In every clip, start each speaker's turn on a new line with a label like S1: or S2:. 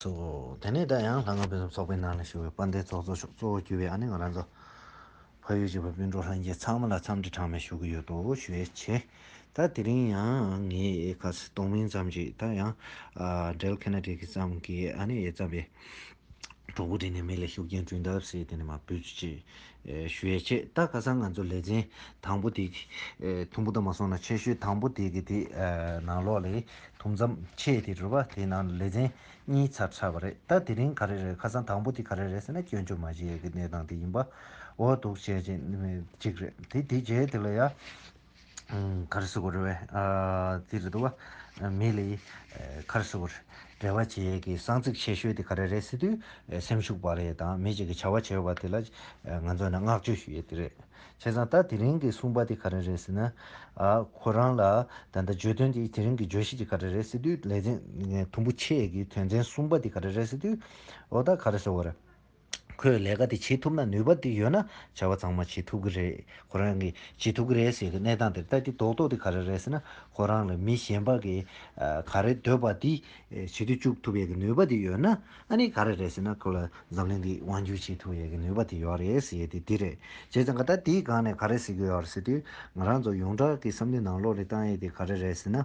S1: སོ། དེ་ནས་ད་ཡང་ལྷ་སྔགས་ཕུན་སུམ་ཚོགས་པའི་ནང་ལ་ཞུགས་པའི་དཔའ་མཐའི་ཚོགས་གཙོ་ཤོག་གཙོ་བོར་གྱུར་པའི་ཨ་ནེ་ང་རང་ཚོ། ཕ་ཡུལ་གྱི་བ་སྤུན་གྲོགས་ལྷན་རྒྱས་ཚང་མ་ལ་འཚམས་འདྲི་གྲངས་མེད་ཞུ་གི་ཡོད་དོ་ཞེས་བྱས། ད་དེ་རིང་ཡང་ངས་ཁ་ཚིག་སྟོང་མིན་ཙམ་ཞིག་ད་ཡང། Del Kennedy གྱི་ཙམ་གྱིས་ཨ་ནེ་ཡས་བརྩམས་པའི་གྲོགས་པོ་བྲིས་ནས་མི་ལ་ཤུགས་རྐྱེན་བསྐྲུན་ཐབས་ཟེར་དེ་ནས་མ་བུད་ཅིག། ཞུས་ཆེ་ད་ག་སང་ང་ཚོ་ལས་ཚན་དང་པོ་དེ་ཐུང་པོ་དང་མ་སོང་ན་ཆེ་ཤོས་དང་པོ་དེ་གི་དེ་ནང་ལོག་ལས་ཐུང་མཚམས་ཕྱེད་དེ་རུ་བ་དེ་ནང་ལས་ཚན་གཉིས་ཚར་ཆགས་པ་རེད་ད་དེ་རིང་ག་རེ་རེད་ཁ་སང་དང་པོ་དེ་ག་རེ་རེད་ཟེར་ན་སྐྱོན་བརྗོད་མ་བྱེད་ཡས་ཀི་གནས་སྟངས་དེ་ཡིན་པ་འོ་འདུག་བྱས་ཅིག་རེད་དེ་དེ་རྗེས་དེ་ལ་ཡ། ཁར་སི་ཀོ་རེ་བའི་རྩིས་རེད་དོ། མེ་ལི། ཁར་སི་ཀོ། རེ་བ་བྱེད་ཀྱི་གསང་ཚིག་ཆེ་ཤོས་དེ་ག་རེ་རེད་སི་དུས་སེམས་ཤུགས་པ་རེད་དང་མི་གཅིག་གི་བྱ་བ་བྱེད་པ་དེ་ལ་ང་ཚོ་ནས་བསྔགས་བརྗོད་ཞུ་ཡི་དེ་རེད། བྱས་ཙང་ད་དེ་རིང་གི་གསུངས་པ་དེ་ག་རེ་རེད་སི་ན། ཁོ་རང་ལ་ད་ལྟ་བརྗོད་དོན་དེ་དེ་རིང་གི་བརྗོད་གཞི་དེ་ག་རེ་རེད་སི་དུས་ལེ་ཚན་དུམ་བུ་ཕྱེད་ཀྱི་དོན་ཚན་གསུམ་པ་དེ་ག་རེ་རེད་སི་དུས་འོ་ད་ག་རེ་སི་ཀོ་རེ། ཁོས་ལས་ཀ་དེ་བྱེད་ཐུབ་ན་ནུས་པ་དེ་ཡོད་ན་བྱ་བ་ཚང་མ་བྱེད་ཐུབ་ཀྱི་རེད་ཁོ་རང་གིས་བྱེད་ཐུབ་ཀྱི་རེད་ཟེར་གི་གནས་སྟངས་དེར་ལྟ་གི་རྡོག་རྡོག་དེ་ག་རེ་རེད་ཟེར་ན་ཁོ་རང་ལ་མི་གཞན་པ་གིས་ག་རེ་འདོད་པ་དེ་བྱེད་དུ་བཅུག་ཐུབ་ཡས་ཀྱི་ནུས་པ་དེ་ཡོད་ན་ཨ་ནི་ག་རེ་རེད་ཟེར་ན་ཁོ་ལ་འཛམ་གླིང་འདི་དབང་བསྒྱུར་བྱེད་ཐུབ་ཡས་ཀྱི་ནུས་པ་དེ་ཡོད་རེད་ཟེར་དེ་དེ་རེད་བྱས་ཙང་ད་ལྟ་དེའི་སྒང་ནས་ག་རེ་ཟེར་གྱི་ཡོད་རེད་ཟེར་དུས་ང་རང་ཚོ་ཡོངས་གྲགས་ཀྱི་བསམ་བློའི་ནང་བློ་རེ་བཏང་ཡས་དེ་ག་རེ་རེད་ཟེར་ན།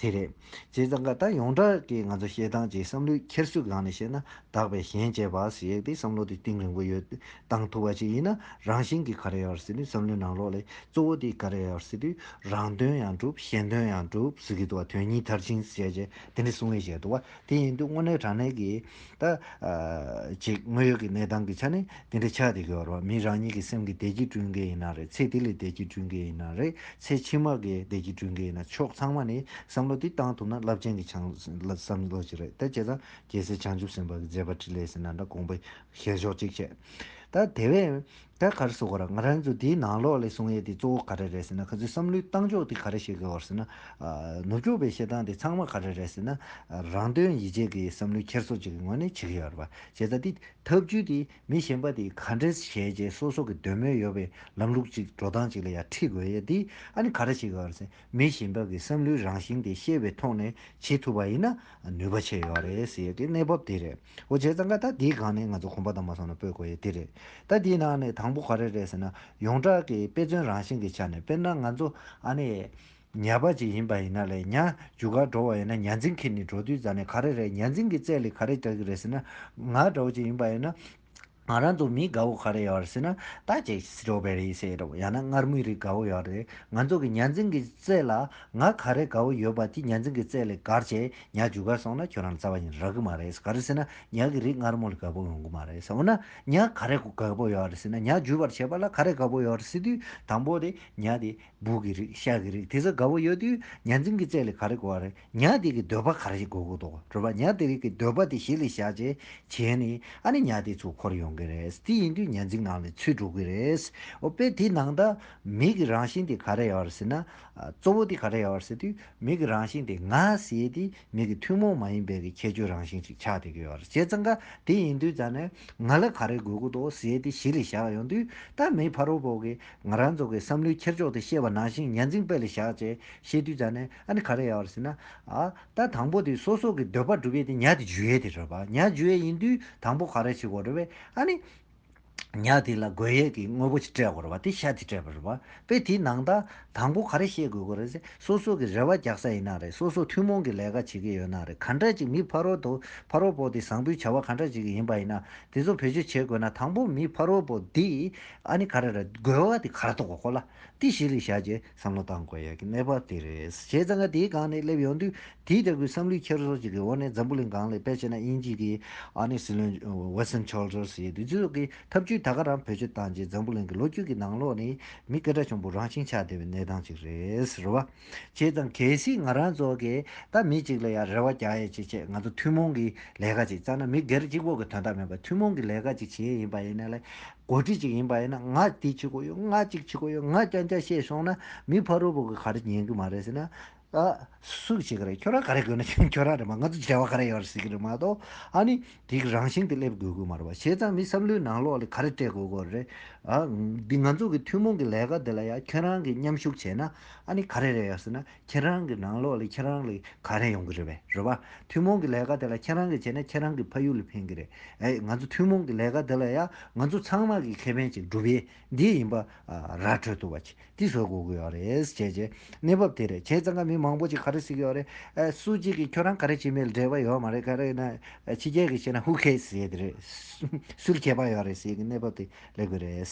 S1: དེ་རེད། བྱས་ཙང་ཀ་ད་ཡོངས་གྲགས་ཀྱི་ང་ཚོ་བཤད་སྟངས་ཀྱི་བསམ་བློའི་འཁྱེར་སོའི་སྒང་ནས་བཤད་ན་དག་པའི་ཞེན་བཅས་པ་ཞིག་ཡོད་དེ་བསམ་བློ་དེ་གཏིང་རིང་པོ་ཡོད་གཏང་ཐུབ་པ་ཞིག་ཡིན་ན་རང་བཞིན་གྱིས་ག་རེ་ཡོད་ཟེར་དུས་བསམ་བློའི་ནང་ལོགས་ལས་གཙོ་བོ་དེ་ག་རེ་ཡོད་ཟེར་དུས་རང་དོན་ཡང་འགྲུབ་གཞན་དོན་ཡང་འགྲུབ་ཟེར་གྱི་འདུག་བ་དོན་གཉིས་མཐར་ཕྱིན་བྱས་རྗེས་དེ་འདྲ་གསུང་ངེས་བྱས་འདུག་བ། དེ་ཡིན་དུས་དངོས་གནས་དྲང་གནས་ཀྱིས་ད་ཅིག་དངོས་ཡོད་ཀྱི་གནས་སྟངས་ཀྱི་ཆ་ནས་དེ་འདྲའི་ཆགས་དེ་གི་བར་བ་མིའི་རང་ཉིད་ཀྱི་སེམས་ཀྱི་བདེ་སྐྱིད་བསྐྲུན་མཁན་ཡིན་ན་རེད་ཚེ་དེ་ལས་བདེ་སྐྱིད་བསྐྲུན་མཁན་ཡིན་ན་རེད་ཚེ་ཕྱི་མ་གི་བདེ་སྐྱིད་བསྐྲུན་མཁན་ཡིན་ན་ཕྱོགས་ཚང་མ་ནས་བསམ་བློ་དེ་བཏང་ཐུབ་ན་རླབས་ཆེན་གྱི་བྱང་བསམ་བློ་ཅིག་རེད་ད་བྱས་ཙང་རྒྱལ་སྲས་བྱང་ཆུབ་སེམས་དཔའ་གྱི་མཛད་པ་ཕྲིན་ལས་ཟེར་ན་འདྲ་དགོངས་པའི་ཞལ་ཤོག་ཅིག་བཅད་ད་དེ་བས། ད་ག་རེ་བཟོ་གོ་ར་ང་རང་ཚོ་དེའི་ནང་ལོགས་ལས་གསུང་ཡས་དེ་གཙོ་བོ་ག་རེ་རེད་ཟེར་ན་ཁ་ཚོའི་བསམ་བློའི་གཏང་ཕྱོགས་དེ་ག་རེ་ཞིག་གི་འོར་ཟེར་ན། ནུབ་ཕྱོགས་པའི་བཤད་སྟངས་དེ་ཚང་མ་ག་རེ་རེད་ཟེར་ན། རང་དོན་ཡིད་བྱེད་ཀྱི་བསམ་བློའི་འཁྱེར་སོ་ཅིག་གི་ངོས་ནས་བྱེད་ཀྱི་ཡོད་རེད་པ། བྱས་ཙང་དེ་ཐབས་ཇུས་དེ་མི་གཞན་པ་དེ་ག་འདྲེ་བྱས་རྗེས་སོ་སོ་གི་འདོད་མོས་ཡོད་པའི་ལམ་ལུགས་ཅིག་འགྲོ་སྟངས་ཅིག་ལ་ཡང་ཁྲིད་དགོས་ཡས་དེ་ཨ་ནི་ག་རེ་ཞིག་གི་འོར་ཟེར་མི་གཞན་པ་གི་བསམ་བློའི་རང་བཞིན་དེ་ཤེས་པའི་ཐོག་ནས་བྱེད་ཐུབ་པ་ཡིན་ན་ནུས་པ་ཆེ་ཡོད་རེད་ཟེར་ཡས་ཀྱི་གནས་བབ་དེ་རེད། འོ་བྱས་ཙང་ཀ་ད་དེའི་སྒང་ནས་ང་ཚོ་གོམ་པ་དང་མ་སོང་ན་སྤོད་དགོས་ཡས་དེ་རེད། ད་དེའི་ནང་ནས་དང་པོ་ག་རེ་རེད་ཟེར་ན་ཡོངས་གྲགས་ཀྱི་དཔེ་མཚོན་རང་བཞིན་གྱི་ཆ་ནས་དཔེར་ན་ང་ཚོ་ཨ་ནེ་ཉལ་པ་ཅིག་ཡིན་པ་ཡིན་ན་ལས་ཉལ་རྒྱུ་གར་འགྲོ་བ་ཡིན་ན་ཉལ་འཛིང་གིས་ནི་འགྲོ་དུས་རྫ་ནས་ག་རེ་རེད་ཉལ་འཛིང་གི་རྩལ་ལས་ག་རེ་རྒྱག་གི་རེད་ཟེར་ན་ང་འདྲ་བོ་ཅིག་ཡིན་པ་ཡིན་ན། ང་རང་ཚོ་མི་དགའ་བོ་ག་རེ་ཡོད་རེད་ཟེར་ན་ད་ཅེ་ཞོགས་པའི་རེད་ཟེར་རོ་ཡང་ན་སྔར་མུས་རིགས་དགའ་བོ་ཡོད་རེད་ང་ཚོ་གི་གཉའ་འཛིན་གི་རྩེད་ལ་ང་ག་རེ་དགའ་བོ་ཡོད་པ་དེ་གཉའ་འཛིན་གི་རྩེད་ལས་གར་བྱས་གཉའ་བྱུ་གར་སོང་ན་ཁྱོད་རང་རྩ་བ་ཉིད་རག་གི་མ་རེད་ག་རེ་ཟེར་ན་གཉའ་གི་རིགས་སྔར་མོ་ལས་དགའ་བོ་ཡོང་གི་མ་རེད་འོ་ན་གཉའ་ག་རེ་དགའ་བོ་ཡོད་རེད་ཟེར་ན་གཉའ་བྱུ་བར་བྱས་པ་ལ་ག་རེ་དགའ་བོ་ཡོད་རེད་ཟེར་དུས་དང་པོ་དེ་གཉའ་དེ་སྦུག་གི་རིགས་ཤ་གི་རིགས་དེ་ཚོ་དགའ་བོ་ཡོད་དུས་གཉའ་འཛིན་གི་རྩེད་ལས་ག་རེ་དགའ་བོ་རེད། ཉག་དེ་གི་འདོད་པ་ག་རེ་ཞིག་དགོས་དགོས་དོགས་དྲོད་པ་ཉག་དེ་རིགས་ཀྱི་འདོད་པ་དེ་ཞིག་ལས་བཞག་ཅེས་བྱས་ནས་ཨ་ནི་ཉག་དེ་ཚུར་འཁོར་ཡོང་གི་རེད་དེ་ཡིན་དུས་ཉག་འཛིང་ནང་ལས་ཚུལ་འགྲོ་གི་རེད་འོ་དཔེ་དེའི་ནང་ད་མིག་གི་རང་བཞིན་དེ་ག་རེ་ཡོད་ཟེར་ན་གཙོ་བོ་དེ་ག་རེ་ཡོད་ཟེར་དུས་མིག་གི་རང་བཞིན་དེ་ང་ཟེར་དེ་མིག་གི་ཐུན་མོང་མ་ཡིན་པའི་གི་ཁྱད་ཆོས་རང་བཞིན་ཞིག་ཆགས་བསྡད་ཀྱི་ཡོད་བྱས་ཙང་ཀ་དེ་ཡིན་དུས་ད་ནི་ང་ལ་ག་རེ་དགོས་དགོས་དོགས་ཟེར་དེ་ཞིག་ལས་བཞག་ཡོང་དུས་ད་མིའི་ཕ་རོལ་བོ་གི་ང་རང་ཚོ་གི་བསམ་བློའི་འཁྱེར་ཕྱོགས་དེ་ཤེས་པ་ནང་བཞིན་ཉག་འཛིང་དཔེ་ལས་བཞག་ཅེས་བཤད་དུས་ད་ནི། ཨ་ནི་ག་རེ་ཡ་བ་རེད་ཟེར་ན། ཨ། ད་དང་པོ་དེ་སོ་སོ་གི་འདོད་པ་སྒྲུབ་ཡས་དེ་ཉག་དེ་འཇུ་ཡས་དེ་རེད་པ། ཉག་འཇུ་ཡས་ཡིན་དུས་དང་པོ་ག་རེ་བྱེད་དགོས་རེད་པས། ཨ་ནི། ཉག་དེ་ལ་དགོས་ཡས་ཀྱི་དངོས་པོ་ཅིག་སྤྲད་དགོས་རེད་པ་དེ་ཤ་དེ་སྤྲད་པ་རེད་པ། དཔེ་དེའི་ནང་ད་དང་པོ་ག་རེ་བཤད་དགོས་དགོས་རེད་ཟེར་སོ་སོ་གི་རེ་བ་རྒྱག་ས་ཡིན་ན་རེད་སོ་སོ་ཐུན་མོང་གི་ལས་ཀ་བྱེད་ཀྱི་ཡོད་ན་རེད་ག་འདྲ་ཅིག་མི་ཕ་རོལ་དོ་ཕ་རོལ་པོ་དེ་བཟང་པོའི་བྱ་བ་ག་འདྲ་ཅིག་གི་ཡིན་པ་ཡིན་ན་དེ་ཚོ་བེད་སྤྱོད་བྱེད་དགོས་ན་དང་པོ་མི་ཕ་རོལ་པོ་དེ་ཨ་ནི་ག་རེ་རེད་དགོས་བ་དེ་ག་རེ་ཐོག་གོ་ལ་དེ་ཞིག་ལས་བྱ་རྗེས། བསམ་བློ་གཏང་དགོས་ཡག་གི་གནས་བབ་དེ་རེད། བྱས་ཙང་ང་དེའི་སྒང་ནས་སླེབས་ཡོང་དུས་དེའི་ལྟ་སྐུལ་བསམ་བློའི་འཁྱེར་སོ་ཅིག་གི་འོག་ནས་འཛམ་བུ་གླིང་སྒང་ལས་དཔེ་བྱས་ན་དབྱིན་ཇི་གི་ཨ་ནེ་སི་ལོན Winston Childers ཡི་དུས་ཚོད་ཀྱི་ཐབས་ཇུས་ད་ག་རང་བེད་སྤྱོད་བཏང་རྗེས་འཛམ་བུ་གླིང་གི་ལོ་རྒྱུས་ཀྱི་ནང་ལོག་ནས་མི་སྐད་སྒྲ་ཆུང་པོ་རང་བཞིན་ཆགས་བསྡད་པའི་གནས་སྟངས་ཅིག་རེད་རེད་བ། བྱས་ཙང་གལ་སྲིད་ང་རང་ཚོ་གས་ད་མི་ཅིག་ལ་ཡང་རེ་བ་རྒྱག་ཡས་ཅི་བྱས་ང་ཚོ་ཐུན་མོང་གི་ལས་ཀ་ཅིག་བཙལ་ན་མི་སྒེར་གཅིག་པོ་གི་དོན་དག་མིན་པར་ཐུན་མོང་གི་ལས་ཀ་ཅིག་བྱེད་ཡས་ཡིན་པ་ཡིན་ན་ལས་གོ་སྒྲིག་ཅིག་ཡིན་པ་ཡིན་ན་ང་དེ་བྱེད་དགོས་ཡོད་ང་གཅིག་བྱེད་དགོས་ཡོད་ང་རྐྱང་རྐྱང་བཤད་ཤོང་ན་མི་ཕ་རོལ་པོ་གི་ག་རེ་ཉན་གི་མ་རེད་ཟེར་ན། ཨ། སུ་བྱེད་གི་རེད་ཁྱོད་རང་ག་རེ་དགོས་ན་ཁྱོད་རང་རེད་མ་ང་ཚོ་བྱ་བ་ག་རེ་ཡོད་རེད་ཟེར་གི་རེད་མ་གཏོགས་ཨ་ནི་དེ་གི་རང་བཞིན་དེ་སླེབས་དགོས་གི་མ་རེད་པ་བྱས་ཙང་མི་བསམ་བློའི་ནང་ལོགས་ལས་ག་རེ་སྤྲད་དགོས་དགོས་རེད་ཨ། འདི་ང་ཚོ་གི་ཐུན་མོང་གི་ལས་ཀ་འདི་ལ་ཡང་ཁྱོད་རང་གི་མཉམ་ཞུགས་བྱས་ན་ཨ་ནི་ག་རེ་རེད་ཡོད་ཟེར་ན་ཁྱེད་རང་གི་ནང་ལོགས་ལ་ཁྱེད་རང་ལ་ག་རེ་ཡོང་གི་རེད་བས་རེད་བ། ཐུན་མོང་གི་ལས་ཀ་དེ་ལ་ཁྱེད་རང་གིས་བྱས་ན་ཁྱེད་རང་གི་ཕ་ཡུལ་ལ་ཕན་གི་རེད། ཨེ་ང་ཚོ་ཐུན་མོང་གི་ལས་ཀ་འདི་ལ་ཡང་ང་ཚོ་ཚང་མ་གིས་ཁེ་ཕན་ཅིག་སྒྲུབ་ཡས་འདི་ཡིན་པ་ར་འཕྲོད་ཐུབ་བ་ཅིག་དེ་བཟོ་དགོས་ཀི་ཡོད་རེད་བྱས་བྱས་གནས་བབ་དེ་རེད་བྱས་ཙང་ཀ་མི་མང་པོ་ཅིག་ག་རེ་བསྲིས་ཀི་ཡོད་རེད་ཨེ་སུ་གཅིག་གིས་ཁྱོད་རང་ག་རེ་བྱས་མེད་ལ་འབྲེལ་བ་ཡོད་མ་རེད་ག་རེ་ཡིན་ན་ཕྱི་རྒྱལ་གིས་བྱས་ན་ཧུ་ཁེས་ཟེར་གི་རེད་སུ་ལ་ཁྱད་པ་ཡོད་རེད་ཟེར་གི་གནས་བབ་དེ། ལེགས་པོ་རེད།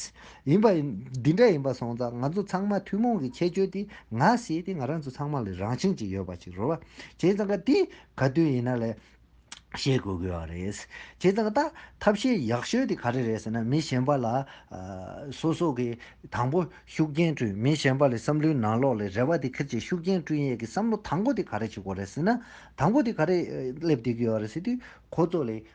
S1: ཡིན་པ་འདི་འདྲ་ཡིན་པ་སོང་ཙང་ང་ཚོ་ཚང་མ་ཐུན་མོང་གི་ཁྱད་ཆོས་དེ་ང་ཞེས་དེ་ང་རང་ཚོ་ཚང་མ་ལ་རང་བཞིན་གྱིས་ཡོད་པ་ཞིག་རོལ་བ་བྱས་ཙང་ཀ་དེ་ག་དུས་ཡིན་ན་ལས་ཤེས་དགོས་དགོས་བ་རེད། བྱས་ཙང་ཀ་ད་ཐབས་ཤེས་ཡག་ཤོས་དེ་ག་རེ་རེད་ཟེར་ན་མི་གཞན་པ་ལ་སོ་སོ་གི་དང་པོ་ཤུགས་རྐྱེན་བསྐྲུན་མི་གཞན་པ་ལས་བསམ་བློའི་ནང་ལོགས་ལས་རེ་བ་དེ་ཁིར་གྱིས་ཤུགས་རྐྱེན་བསྐྲུན་ཡས་ཀྱི་བསམ་བློ་དང་པོ་དེ་ག་རེ་བྱེད་དགོས་རེད་ཟེར་ན་དང་པོ་དེ་ག་རེ་སླེབས་བསྡད་ཀྱི་ཡོད་རེད་ཟེར་དུས་ཁོ་ཚོ་ལས་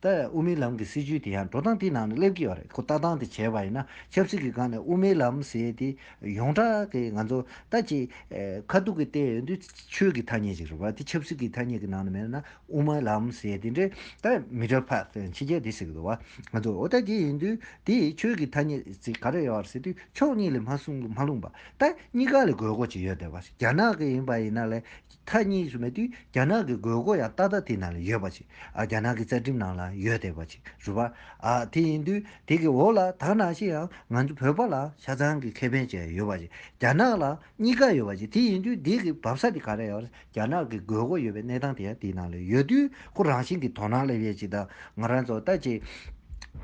S1: ལྟ། དབུ་མའི་ལམ་གྱི་སྲིད་བྱུས་དེ་ཡང་འགྲོ་སྟངས་དེའི་ནང་ནས་སླེབས་ཀྱི་ཡོད་རེད་ཁོ་ལྟ་སྟངས་དེ་བྱས་པ་ཡིན་ན་ཆབ་སྲིད་ཀྱི་སྒང་ནས་དབུ་མའི་ལམ་ཟེར་དེ་ཡོངས་གྲགས་ཀྱི་ང་ཚོ་ལྟ་ཅི། ཁ་ཐུག་གི་ལྟས་ཡོད་དུས་ཆོས་ཀྱི་ཐ་སྙད་ཅིག་རེད་བ་དེ་ཆབ་སྲིད་ཀྱི་ཐ་སྙད་ཀྱི་ནང་ནས་མེད་ན་དབུ་མའི་ལམ་ཟེར་དེ་འདྲའི་ལྟ་མི་འདྲ་བ་ཕྱི་རྒྱལ་དེ་ཟེར་གྱི་འདུག་བ་ང་ཚོ་འོ་ལྟ་དེ་ཡིན་དུས་དེ་ཆོས་ཀྱི་ཐ་སྙད་ཅིག་ག་རེ་ཡོད་རེད་ཟེར་དུས་ཕྱོགས་གཉིས་ལས་མ་གསུངས་མ་ལྷུང་བ་ལྟ་གཉིས་ཀ་ལས་དགོས་མཁོ་ཅིག་ཡོད་བསྡད་བ་རེད་རྒྱ་ནག་གི་ཡིན་པ་ཡིན་ན་ལས། མཐའ་གཉིས་སུ་མེད་དུས་རྒྱ་ནག་གི་དགོས་མཁོ་ཡང་ཏག་ཏག་དེའི་ནང་ལ་ཡོད་པ་ཅིག་རྒྱ་ནག་གི་རྩ་ཁྲིམས་ནང་ལ་ཡོད་དེ་བ་ཅིག་རུ་བ། དེ་ཡིན་དུས་དེ་གི་འོག་ལ་དག་ནང་བཞིན་ཡང་ང་ཚོ་བོད་པ་ལ་ཆ་ཚང་གི་ཁེ་ཕན་ཅིག་ཡོད་བ་ཅིག་རྒྱ་ནག་ལ་གཉིས་ཀ་ཡོད་བ་ཅིག་དེ་ཡིན་དུས་དེ་གི་བབས་ས་དེ་ག་རེ་ཡོད་རྒྱ་ནག་གི་དགོས་མཁོ་ཡོད་པའི་གནས་སྟངས་དེ་ཡང་དེའི་ནང་ལ་ཡོད་དུས་ཁོ་རང་བཞིན་གི་དོ་སྣང་སླེབས་ཡས་ཅིག་དང་ང་རང་ཚོ་ལྟ་ཅི་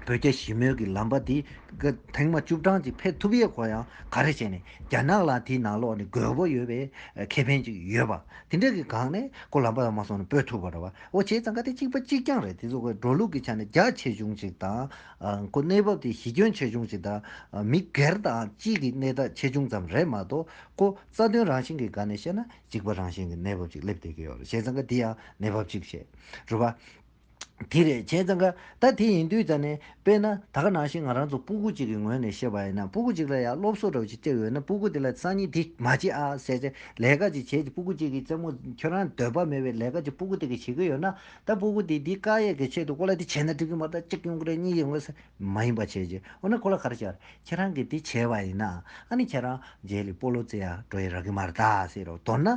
S1: བོད་རྒྱ་ཞི་མོལ་གི་ལམ་པ་དེ་གི་ཐེངས་མ་བཅུ་གྲངས་ཅིག་ཕེབས་ཐུབ་ཡས་ཁོ་ཡང་ག་རེ་བྱས་ནས། རྒྱ་ནག་ལ་དེའི་ནང་ལོགས་ནས་དགོས་པོ་ཡོད་པའི་ཁེ་ཕན་ཅིག་ཡོད་པ། དེ་འདྲ་གི་སྒང་ནས་ཁོ་ལམ་པ་ལ་མ་སོང་ནས་སྤོས་ཐུབ་པ་རེད་བ། འོ་བྱས་ཙང་ཀ་དེ་གཅིག་པ་གཅིག་རྐྱང་རེད་དེ་ཚོ་ཁོའི་འགྲོ་ལུགས་ཀྱི་ཆ་ནས་རྒྱ་ཆེ་ཆུང་ཅིག་དང། ཁོ་གནས་བབ་དེ་གཞི་ཁྱོན་ཆེ་ཆུང་ཅིག་དང། མི་སྒེར་དང་སྤྱི་གི་གནས་སྟངས་ཆེ་ཆུང་ཙམ་རེད་མ་གཏོགས་ཁོ་རྩ་དོན་རང་བཞིན་གི་སྒང་ནས་བཤད་ན་འཇིགས་པ་རང་བཞིན་གྱི་གནས་བབ་ཅིག་སླེབས་བསྡད་ཀྱི་ཡོད་རེད་བྱས་ཙང་ཀ་དེ་ཡང་གནས་བབ་ཅིག་བྱས་རུ་བ། དེ་རེད་བྱས་ཙང་ཀ། ད་དེ་ཡིན་དུས་ཙང་ནས་དཔེར་ན་ད་ག་ནང་བཞིན་ང་རང་ཚོ་སྤུ་གུ་གཅིག་གི་ངོས་ནས་བཤད་པ་ཡིན་ན་སྤུ་གུ་གཅིག་ལ་ཡང་སློབ་གསོ་འདྲ་བོ་ཞིག་སྤྲད་ཡོད་ན་སྤུ་གུ་དེ་ལ་སང་ཉིན་དེ་མ་བྱེད་ཨ་ཟེར་ཚེ་ལས་ཀ་ཅིག་བྱེད་དེ་སྤུ་གུ་གཅིག་གི་རྩེད་མོ་ཁྱོད་རང་འདོད་པ་མེད་པའི་ལས་ཀ་ཅིག་སྤུ་གུ་དེ་གིས་བྱེད་ཀྱི་ཡོད་ན་ད་སྤུ་གུ་དེས་དེའི་དཀའ་ཡས་ཀྱི་ཆེད་དུ་ཁོ་ལ་དེ་བྱས་ན་འགྲིག་གི་མ་རེད་གཅིག་ཡོང་གི་རེད་གཉིས་ཡོང་གི་རེད་མ་ཡིན་པ་བྱས་རྗེས་འོ་ན་ཁོ་ལ་ག་རེ་བྱ་རེད་ཁྱེད་རང་གིས་དེ་བྱས་པ་ཡིན་ན་ཨ་ནི་ཁྱེད་རང་རྗེས་ལས་སྤོ་ལོ་རྩེ་ཡག་འགྲོ་ཡི་རག་གི་མ་རེད་ད་ཟེར་རོ་མདོར་ན་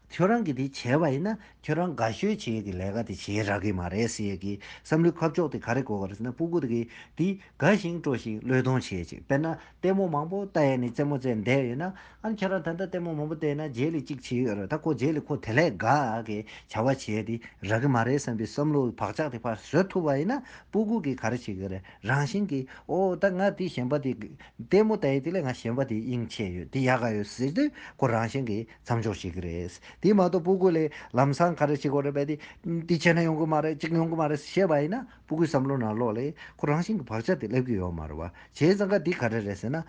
S1: ཁྱོད་རང་གིས་དེ་བྱས་པ་ཡིན་ན་ཁྱོད་རང་དགའ་ཤོས་བྱེད་ཀྱི་ལས་ཀ་དེ་བྱེད་རག་གི་མ་རེད་ཟེར་གི་བསམ་བློའི་ཁ་ཕྱོགས་དེ་ག་རེ་གོ་ག་རེ་ཟེར་ན་སྤུ་གུ་དེ་གིས་དེ་དགའ་ཞིང་སྤྲོ་ཞིང་བློས་གཏོང་བྱེད་ཅིག་དཔེར་ན་ལྟད་མོ་མང་པོ་བལྟ་ཡས་ནས་རྩེད་མོ་རྩེད་འདས་ཡོད་ན་ཨང་ཁྱེད་རང་ད་ལྟ་ལྟད་མོ་མང་པོ་བལྟས་ན་རྗེས་ལས་གཅིག་བྱེད་ཡོད་རེད་ད་ཁོ་རྗེས་ལས་ཁོ་དེ་ལས་དགའ་གི་བྱ་བ་བྱེད་དེ་རག་གི་མ་རེད་བསམ་པའི་བསམ་བློའི་བག་ཆགས་དེ་ཕར་བཟོད་ཐུབ་པ་ཡིན་ན་སྤུ་གུ་གིས་ག་རེ་བྱེད་ཀྱི་རེད་རང་བཞིན་གྱིས་ཨོ་ད་ང་དེ་གཞན་པ་དེ་ལྟད་མོ་བལྟ་ཡས་དེ་ལས་ང་གཞན་པ་དེ་དབྱིངས་ཆེ་ཡོད་དེ་ཡག་ག་ཡོད་ཟེར་དུས་ཁོ་རང་བཞིན་གྱིས་མཚམས་འཇོག་བྱེད་ཀྱི་རེད། དེ་མ་གཏོགས་སྤུ་གུ་ལས་ལམ་སང་ག་རེ་བྱེད་དགོས་རེད་པས་དེ་དེ་བྱས་ན་ཡོང་གི་མ་རེད་གཅིག་ཡོང་གི་མ་རེད་བཤད་པ་ཡིན་ན་སྤུ་གུའི་བསམ་བློ་ནང་ལོགས་ལས་ཁོ་རང་བཞིན་གྱི་བག་ཆགས་དེ་སླེབས་ཀྱི་ཡོད་མ་རེད་བ། བྱས་ཙང་ཀ་དེ་ག་རེ་རེད་ཟེར་ན།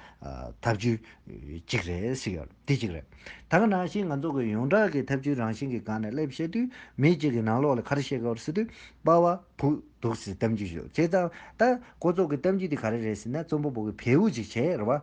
S1: ཐབས་ཇུས་གཅིག་རེད་ཟེར་གྱི་རེད་དེ་གཅིག་རེད། ད་ག་ནང་བཞིན་ང་ཚོ་གི་ཡོངས་གྲགས་ཀྱི་ཐབས་ཇུས་རང་བཞིན་གྱི་སྒང་ནས་སླེབས་བཤད་དུས་མི་གཅིག་གིས་ནང་ལོགས་ལས་ག་རེ་བཤད་དགོས་རེད་ཟེར་དུས་དཔའ་བ་བུ་སྡུག་ཟེར་གཏམ་རྒྱུད་བཤད་བྱས་ཙང་ད་ཀོ་ཚོགས་ཀྱི་གཏམ་རྒྱུད་དེ་ག་རེ་རེད་ཟེར་ན་རྩོམ་པ་པོ་གི་བེའུ་ཅིག་བྱས་རེད་བ།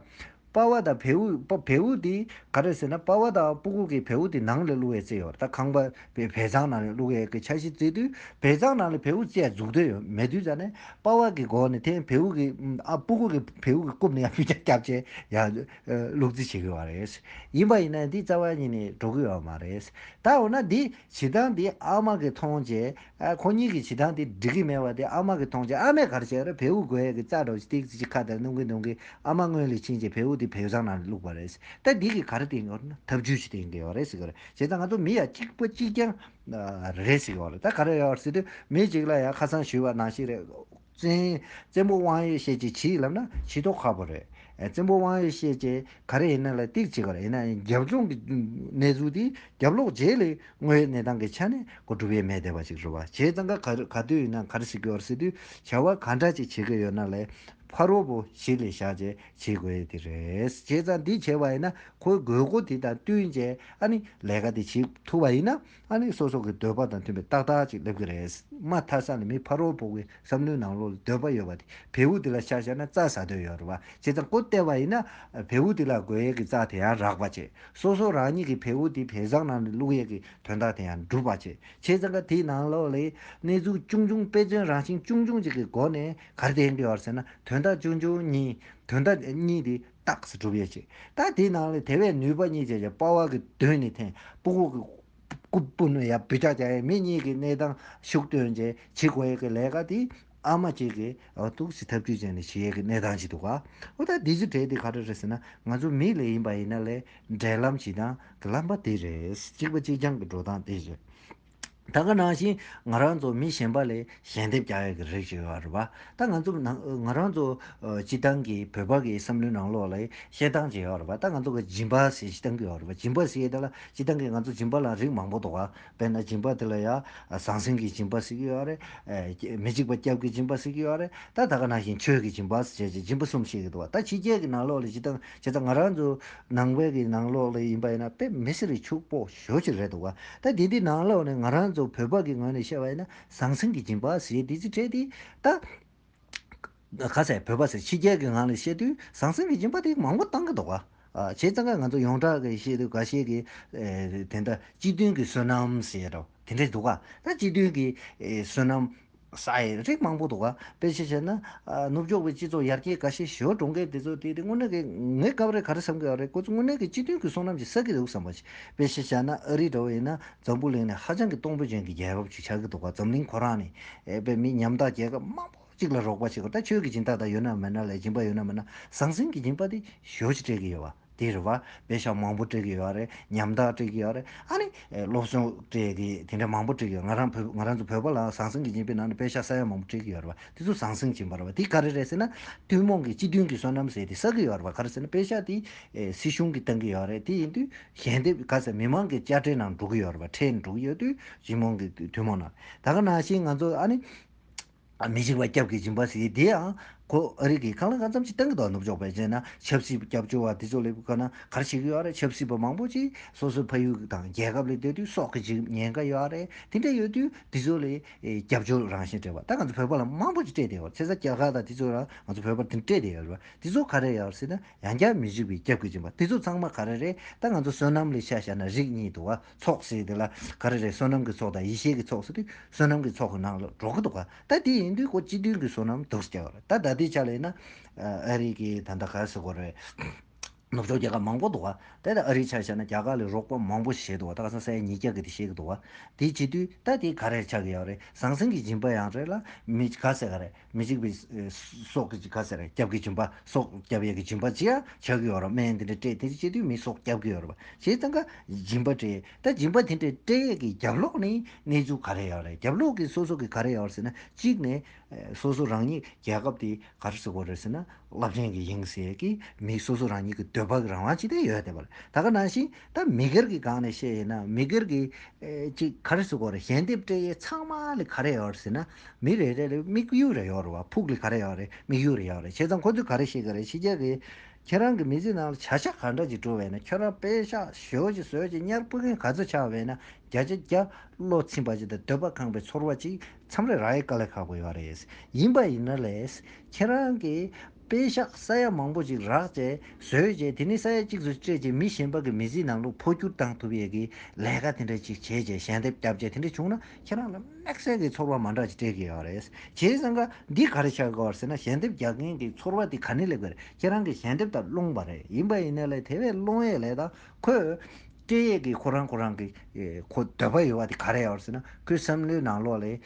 S1: དཔའ་བོ་དང་བེའུ། བེའུ་དེ་ག་རེ་ཟེར་ན་དཔའ་བོ་དང་སྤུ་གུག་གི་བེའུ་དེ་ནང་ལ་བླུགས་བའི་རྩལ་ཡོད་ད་ཁང་པ་བའི་བལ་ཚང་ནང་ལ་བླུགས་བའི་གི་ཆ་ཞིག་བརྩེགས་དུས་བལ་ཚང་ནང་ལ་བེའུ་རྩལ་འཛུགས་འདོད་ཡོད་མེད་དུས་ད་ནི་དཔའ་བོ་གི་མགོ་ནས་དེ་བེའུ་གི་ཨ་སྤུ་གུག་གི་བེའུ་གི་རྐུབ་ནས་ཡང་བུ་ཆ་སྐྱབས་བཅས་ཡང་བླུགས་རྩིས་བྱེད་གི་བ་རེད། ཡིན་པ་ཡིན་ན་འདི་རྩ་བ་ཉིད་ནས་འགྲོ་གི་ཡོད་མ་རེད། ད་འོ་ན་འདི་བྱེད་སྟངས་འདི་ཨ་མ་གི་མཐོང་བྱས་ཨ་ཁོ་གཉིས་ཀྱི་བྱེད་སྟངས་དེ་འགྲིག་གི་མེད་པ་དེ་ཨ་མ་གི་མཐོང་ཆེན་ཨ་མས་གར་བྱས་ར་བེའུ་རྒོད་ཡག་གི་རྩ་འདྲ་བོ་ཞིག་སྟེགས་ཀྱི་ཁ་དར་སྣུམ་གིས་བརྡུང་གིས་ཨ་མ་སྔོན་ལས་ཕྱིན་རྗེས་བེའུ་དེ་བེའུ་ཚང་ནང་བླུགས་པ་རེད་ཟེར་ད་འདི་གི་གར་དེ་འོར་ན་ཐབས་ཇུས་ཞིག་བསྟེན་གི་ཡོད་རེད་ཟེར་གི་རེད་བྱས་ཙང་ང་ཚོ་མི་ཡ་གཅིག་པོ་གཅིག་རྐྱང་རེད་ཟེར་གི་ཡོད་རེད་ད་ག་རེ་ཡོད་རེད་ཟེར་དུས་མི་གཅིག་ལ་ཡང་ཁ་སང་ཞུས་པ་ནང་བཞིན་རེད། བཙན། བཙན་པོ་དབང་ཡེ་ཤེས་ཀྱིས་ཇི་ཡིས་ལབ་ན་ཇི་ཐོག་ཁ་པོ་རེད། བཙན་པོ་དབང་ཡེ་ཤེས་ཀྱིས་ག་རེ་ཡིན་ན་ལ་སྟེགས་བྱེད་གར་ཡིན་ན་རྒྱབ་ལྗོངས་ཀྱི་གནས་ཚུལ་དེ་རྒྱབ་ལོག་རྗེས་ལས་དངོས་ཡོད་གནས་སྟངས་ཀྱི་ཆ་ནས་གོ་སྒྲུབ་ཡས་མས་བསྡད་པ་ཞིག་རེད་བ་བྱས་ཙང་ག་ག་དུས་ཡིན་ན་གར་ཞིག་གི་བར་སྲིད་དུས་བྱ་བ་ག་འདྲ་ཅིག་བྱེད་ཀྱི་ཡོད་ན་ལས་ཕ་རོལ་པོ་ཞིག་ལས་བཞག་རྗེས་བྱེད་དགོས་ཡས་དེ་རེད་བྱས་ཙང་དེ་བྱས་བ་ཡིན་ན་ཁོའི་དགོས་མཁོ་དེ་དང་བསྟུན་རྗེས་ཨ་ནི་ལས་ཀ་དེ་བྱེད་ཐུབ་བ་ཡིན་ན། ཨ་ནི་སོ་སོ་གི་འདོད་པ་དང་མཐུན་པའི་རྟགས་དག་ཅིག་སླེབས་ཀྱི་རེད། མ་མཐའ་ས་ནི་མི་ཕ་རོལ་བོ་གི་བསམ་བློའི་ནང་ལོག་ལ་འདོད་པ་ཡོད་པ་དེ་བེའུ་དེ་ལ་ཤ་བཞག་ན་རྩ་ཟ་འདོད་ཡོད་རེད་བ་བྱེད་ཙང་ཀོ་བསྟད་པ་ཡིན་ན། བེའུ་དེ་ལ་དགོས་ཡས་ཀྱི་རྩ་དེ་ཡང་རག་པ་བྱེད། སོ་སོ་རང་ཉིད་ཀྱི་བེའུ་དེ་བེ་བཟང་ནང་ནས་བླུག་ཡས་ཀྱི་དོན་དག་དེ་ཡང་འགྲུབ་པ་བྱེད། བྱེད་ཙང་ཀ་དེའི་ནང་ལོག་ལས་གནས་ཚུལ་ཅུང་ཅུང་དཔེ་མཚོན་རང་བཞིན་ཅུང་ཅུང་ཅིག་གི་སྒོ་ནས་གར་བསྟན་གྱི་ཡོད་ཟེར་ན་དོན་དག་ཅུང་ཅུང་གཉིས་དོན་དག་གཉིས་དེ་རྟགས་སུ་གྲུབ་ཡོད་ཅིང། ད་དེའི་ནང་ལས་དེ་བས་ནུས་པ་གཉིས་བྱས་ཀྱང་དཔའ་བོ་གི་དོན་ནི་ཐེངས་སྤུག་བོ་གི་སྐུ་སྤུན་ཡ་བུ་ཅག་ཅག་ཡང་མི་གཉིས་ཀྱི་གནས་སྟངས་ཤུགས་བཏོན་རྗེས་བྱེད་དགོས་ཡས་ཀྱི་ལས་ཀ་དེ་ཨ་མ་གཅིག་གིས་ཐུགས་ཀྱི་ཐབས་ཇུས་སྤྱད་ནས་བྱེད་ཡས་ཀྱི་གནས་སྟངས་ཅིག་འདུག་ག་འོ་ད་འདི་ཚོ་གྲས་འདི་ག་འདྲ་རེད་ཟེར་ན་ང་ཚོ་མིའི་ལས་ཡིན་པ་ཡིན་ན་ལས་འབྲས་ལམ་བྱེད་སྟངས་ཀྱི་ལམ་པ་དེ་རེད་གཅིག་པ་གཅིག་རྐྱང་གི་འགྲོ་སྟངས་དེ་རེད། ད་ག་ནང་བཞིན་ང་རང་ཚོ་མི་གཞན་པ་ལས་ཞལ་འདེབས་རྒྱག་ཡག་གི་རེད་ཅེས་བ་རུ་བ། ད་ང་ཚོ་ནང་ང་རང་ཚོ་སྤྱི་བཏང་གི་བོད་པ་གི་བསམ་བློའི་ནང་ལོག་ལ་བཤད་སྟངས་ཅིག་ཡོད་རུ་བ་ད་ང་ཚོ་གི་སྦྱིན་པ་ཟེར་སྤྱི་བཏང་གི་ཡོད་རུ་བ་སྦྱིན་པ་ཟེར་དེ་ལ་སྤྱི་བཏང་གི་ང་ཚོ་སྦྱིན་པ་ལ་རིགས་མང་པོ་འདུག་བ་དཔེར་ན་སྦྱིན་པ་དེ་ལ་ཡང་ཟང་ཟིང་གི་སྦྱིན་པ་ཟེར་གྱི་ཡོད་རེད། མི་འཇིགས་པ་སྐྱབས་ཀྱི་སྦྱིན་པ་ཟེར་གྱི་ཡོད་རེད་ད་ད་ག་ནང་བཞིན་ཆོས་ཀྱི་སྦྱིན་པ་ཟེར་བྱས་ཀྱི་སྦྱིན་པ་གསུམ་བཤད་གི་འདུག་བ་ད་ཕྱི་རྒྱལ་གི་ནང་ལོག་ལ་སྤྱི་བཏང་བྱས་ཙང་ང་རང་ཚོ་ནང་བའི་གི་ནང་ལོག་ལ་ཡིན་པ་ཡིན་ན་དཔེ་མི་སེར་ཕྱུག་པོ། ཞོར་ཞིག་རེད་འདུག་ད་དེ་འདི་ནང་ལོགས་ནས་ང་རང་ཚོ་བོད་པ་གི་ངོས་ནས་བཤད་པ་ཡིན་ན་ཟང་ཟིང་གི་སྦྱིན་པ་ཞེས་དེ་ཚིག་ཕྲད་དེ། ད་ག་ཚད་བོད་པ་ཚོས་ཕྱི་རྒྱལ་གི་ངང་ནས་བཤད་དུས་ཟང་ཟིང་གི་སྦྱིན་པ་དེ་མང་པོ་བཏང་གི་འདུག་བྱས་ཙང་ཀ་ང་ཚོ་ཡོངས་གྲགས་ཀྱི་བཤད་དུས་འགའ་ཤས་ཀྱིས་དེ་འདྲ་སྤྱི་མཐུན་གྱི་བསོད་ནམས་ཞེས་དང་དེ་འདྲས་འདུག་ད་སྤྱི་མཐུན་གྱི་བསོད་ནམས། ས་ཡི་རིགས་མང་པོ་འདུག་དཔེ་ཆ་བྱས་ན། ནུབ་ཕྱོགས་པའི་སྤྱི་ཚོགས་ཡར་རྒྱས་དགའ་ཤས་ཞོར་གྲོང་སྐད་དེ་ཚོ་དེ་དངོས་གནས་ཀྱི་ངའི་སྐབས་རེ་ག་རེ་བསམ་གི་ཨ་རེ་ཁོ་ཚོ་དངོས་གནས་ཀྱི་སྤྱི་དོན་གྱི་བསོད་ནམས་ཀྱི་ས་གི་རེའུ་བསམ་པ་ཅི། དཔེ་ཆ་བྱས་ན་ཨ་རིའི་འདྲ་བ་ཡིན་ན་འཛམ་བུ་གླིང་ནི་ཧ་ཅང་གི་སྟོང་བུ་ཅན་གྱི་རྒྱལ་ཁབ་ཅིག་ཆགས་ཀྱི་འདུག་འཛམ་གླིང་ཁོ་རང་ནི། དཔེ་མི་ཉམ་ཐག་རྒྱལ་ཁབ་མང་པོ་ཅིག་ལ་རོགས་པ་བྱེད་དགོས་ད་ཆོས་ཀྱི་སྦྱིན་བདག་དག་ཡོད་ན་མེད་ན་ལས་སྦྱིན་པ་ཡོད་ན་མེད་ན་ཟང་ཟིང་གི་སྦྱིན་པ་དེ་ཞོ་ཅིག་སྤྲད་ཀྱི་ཡོད་བ། དེ་རེད་བ། བེད་ཤ་མང་པོ་སྤྲད་གི་ཡོད་རེད། ཉམ་ཐག་སྤྲད་གི་ཡོད་རེད། ཨ་ནི། སློབ་སྦྱོང་སྤྲད་གི་དེ་འདྲ་མང་པོ་སྤྲད་གི་ཡོད། ང་རང་བོད་ང་རང་ཚོ་བོད་པ་ལའང་ཟང་ཟིང་གི་སྦྱིན་པའི་ནང་ནས་བེད་ཤ་ས་ཡ་མང་པོ་སྤྲད་གི་ཡོད་རེད་བ། དེ་ཚོ་ཟང་ཟིང་སྦྱིན་པ་རེད་བ། དེ་ག་རེ་རེད་ཟེར་ན། ཐུན་མོང་གི་སྤྱི་མཐུན་གྱི་བསོད་ནམས་ཟེར་དེ་བསགས་གི་ཡོད་རེད་བ། ག་རེ་ཟེར་ན་བེད་ཤ་དེ། སྲིད་གཞུང་གིས་བཏང་གི་ཡོད་རེད་དེ་ཡིན་དུས། ཞལ་འདེབས་ག་ཟེར་མི་མང་གི་དཔྱ་ཁྲལ་ནང་འགྲོ་གི་ཡོད་རེད་བ། ཁྲལ་འགྲོ་གི་ཡོད་དུས། སྤྱི་དམངས་ཀྱི་ཐུན་མོང་ནང། ད་ག་ནང་བཞིན་ང་ཚོ་ཨ་ནི། མི་འཇིགས་པ་སྐྱབས་ཀྱི་སྦྱིན་པ་བྱས་དེ་ཡང་གོ། ཨ་རིག་གིས་ཁང་ལ་ཁང་ཙམ་ཅིག་བཏང་གི་འདུག་ནུབ་ཕྱོགས་པའི་རྗེས་ན་ཆབ་སྲིད་སྐྱབས་བཅོལ་བ་དེ་ཚོ་སླེབས་དགོས་ན་ག་རེ་བྱེད་ཀྱི་ཡོད་རེད་ཆབ་སྲིད་པ་མང་པོ་ཅིག་སོ་སོའི་ཕ་ཡུལ་དང་རྒྱལ་ཁབ་ལས་སྡོད་དུས་སྲོག་གི་འཇིགས་ཉེན་འགའ་ཡོད་རེད་དེ་འདྲ་ཡོད་དུས་དེ་ཚོ་ལས་སྐྱབས་བཅོལ་རང་བཞིན་སྤྲད་པ་ད་ང་ཚོ་བོད་པ་ལ་མང་པོ་ཅིག་སྤྲད་བསྡད་ཡོད་རེད་ཚེ་ས་རྒྱ་གར་དང་དེ་ཚོ་ལ་ང་ཚོ་བོད་པར་དེ་འདྲ་སྤྲད་བསྡད་ཡོད་རེད་དེ་ཚོ་ག་རེ་ཡོད་སྲིད་ན་ཡང་བསྐྱར་མི་འཇིགས་པའི་སྐྱབས་ཀྱི་སྦྱིན་པ་དེ་ཚོ་ཚང་མ་ག་རེ་རེད་ད་ང་ཚོ་བསོད་ནམས་ལས་ཤ་བཞག་ན་རིགས་གཉིས་འདུག་ཨ། ཚོགས་ཞེས་དེ་ལ་ག་རེ་རེད་བསོད་ནམས་ཀྱི་ཚོགས་དང་ཡེ་ཤེས་ཀྱི་ཚོགས་ཟེར་དུས་བསོད་ནམས་ཀྱི་ཚོགས་ཀྱི་ནང་ལ་འགྲོ་གི་འདུག་ག་ད་དེ་ཡིན་དུས་ཁོ་སྤྱི་མཐུན་གྱི་བསོད་ནམས་དུག་སེལ་བ་རེད་ད་ད་ལྟའི་ཆ་ལ་ཡིན་ན་ཨ་རིག་གི་ད་ལྟ་ག་ཟེར་དགོས་རེད་ནུབ་ཕྱོགས་རྒྱལ་ཁབ་མང་པོ་འདུག་ག་དེ་ལ་ཨ་རིའི་ཆ་བཤད་ན་རྒྱ་གར་ལས་རོགས་པ་མང་པོ་བྱས་འདུག་ག་ད་ག་ས་སའི་ཉིས་བརྒྱ་གི་དེ་བཤད་གི་འདུག་ག་དེ་བྱེད་དུས་ད་དེ་ག་རེ་ཆགས་ཀྱི་ཡོད་རེད་ཟང་ཟིང་གི་སྦྱིན་པ་ཡང་རེད་ལ་མི་ག་ཟེར་ག་རེད། མི་འཇིགས་པའི་སྲོག་གི་སྐྱབས་སེར་སྐྱབས་ཀྱི་སྦྱིན་པ་སྲོག་སྐྱབས་ཡས་ཀྱི་སྦྱིན་པ་ཅི་ཡང་བྱ་གི་ཡོད་རོ་སྨན་དེ་འདྲ་སྤྲད་དེ་སྤྱི་འཐུས་མི་སྲོག་སྐྱབས་ཀྱི་ཡོད་རོ་ཞེས་ད་ག་སྦྱིན་པ་སྤྲད་ད་སྦྱིན་པ་དེ་འདྲ་སྤྲད་ཡས་ཀྱི་རྒྱབ་ལོགས་ནས་གནས་ཚུལ་ག་རེ་ཡོད་རེད་རྒྱབ་ལོགས་ཀྱི་སོ་སོ་གི་ག་རེ་ཡོད་རེད་ཟེར་ན་གཅིག་ནས་སོ་སོ་རང་ཉིད་རྒྱལ་ཁབ་དེ་ག་རེ་བཟོ་གི་རེད་ཟེར་ན་རླབས་ཆེན་གྱི་ཡིན་ཟེར་གི་མི་སོ་སོ་རང་ཉིད་ཀྱི་འདོད་པ་གི་རང་དབང་ཅི་ཐད་ཡོད་བསྡད་པ་རེད་ད་ག་ནང་བཞིན་ད་མི་སྒེར་གྱི་སྒང་ནས་བཤད་ཡས་ན་མི་སྒེར་གྱི་ཅིག་ག་རེ་བཟོ་གི་རེད་ཞལ་འདེབས་སྤྲད་ཡས་ཚང་མ་ལས་ག་རེ་ཡོད་རེད་ཟེར་ན། མི་རེ་རེ་ལ་དམིགས་ཡུལ་རེ་ཡོད་རེད་བ་ཕུགས་ལས་ག་རེ་ཡོད་རེད་དམིགས་ཡུལ་རེ་ཡོད་རེད་བྱས་ཙང་ཁོ་ཚོས་ག་རེ་ཤེས་གི་རེད་ཕྱི་རྒྱལ་གི་ཁྱེད་རང་གི་མི་ཚེ་ནང་ལ་བྱ་བཞག་ག་འདྲ་ཅིག་འགྲོ་བས་ན་ཁྱོད་རང་དཔེ་ཤག་ཞོལ་ཅིག་ཟོལ་ཅིག་གཉར་སྤུ་རྒན་ག་ཚོད་ཆགས་བས་ན་བརྒྱ་ཆ་བརྒྱ་བློ་ཚིམ་པ་ཅིག་དང་འདོད་པ་ཁང་པའི་ཚོར་བ་ཅིག་མཚམས་རེ་རག་ཡས་དཀའ་ལས་ཁག་པོ་ཡོད་རེད་ཡིན་པ་ཡིན་ན་ལས་ཁྱེད་རང་གི། དཔེ་ཤག་ས་ཡ་མང་པོ་ཅིག་རག་བཅས་བཟོས་རྗེས་དེ་ནི་ས་ཡ་གཅིག་ཏུ་སྤྲད་རྗེས་མི་གཞན་པ་གི་མི་ཚེའི་ནང་ལུག་འཕོ་སྒྱུར་བཏང་ཐུབ་ཡས་ཀི་ལས་ཀ་དེ་འདྲ་ཅིག་བྱས་རྗེས་ཞལ་འདེབས་སྐྱབས་བཅས་དེ་འདྲ་བྱུང་ན་ཁྱེད་རང་ལ་དམེགས་བསལ་གི་ཚོར་བ་མ་འདྲ་ཅིག་སྤྲད་ཀྱི་ཡོད་རེད། བྱས་ཙང་ཀ་འདི་ག་རེ་བྱ་དགོས་ཟེར་ན་ཞལ་འདེབས་རྒྱག་མཁན་གི་ཚོར་བ་དེ་ག་ནི་ལེགས་པས་ཁྱེད་རང་གི་ཞལ་འདེབས་དང་སློང་བ་རེད་ཡིན་པ་ཡིན་ན་ལས་དེ་བས་སློང་ཡས་ལས་དང་ཁོས། སྐད་ཡིག་གིས་ཁོ་རང་ཁོ་རང་གི་ཁོ་འདོད་པ་ཡོད་པ་དེ་ག་རེ་ཡོད་ཟེར་ན་ཁོའི་བསམ་བློའི་ནང་ལོགས་ལས།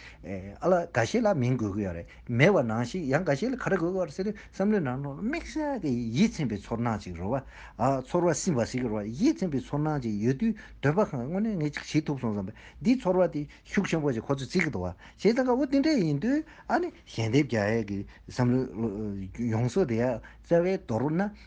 S1: ཨ་ལ་འགའ་ཤས་ལ་མིང་འགོད་གི་ཡོད་རེད་མེད་པ་ནང་བཞིན་ཡང་འགའ་ཤས་ལ་ག་རེ་འགོད་གི་ཡོད་ཟེར་ཏེ་བསམ་བློའི་ནང་ལོགས་ལ་དམིགས་བསལ་གྱི་ཡིད་ཚིམ་པའི་ཚོར་སྣང་ཅིག་རོལ་བ། ཚོར་བ་སིམ་པ་ཞིག་གི་རོལ་བ་ཡིད་ཚིམ་པའི་ཚོར་སྣང་ཅིག་ཡོད་དུས་འདོད་པ་གང་དངོས་གནས་ངས་ཅིག་བྱེད་ཐུབ་སོང་བསམ་པས་འདིའི་ཚོར་བ་དེ་ཤུགས་ཆེན་པོ་ཞིག་ཁོ་ཚོས་བརྩི་གི་འདུག་བྱས་ཙང་དགའ་བོ་དེ་འདྲ་ཡིན་དུས་ཨ་ནི་ཞལ་འདེབས་རྒྱག་ཡས་ཀྱི་བསམ་བློའི་ཡོངས་སུ་དེ་ཡར་བཙལ་བའི་དོར་ན།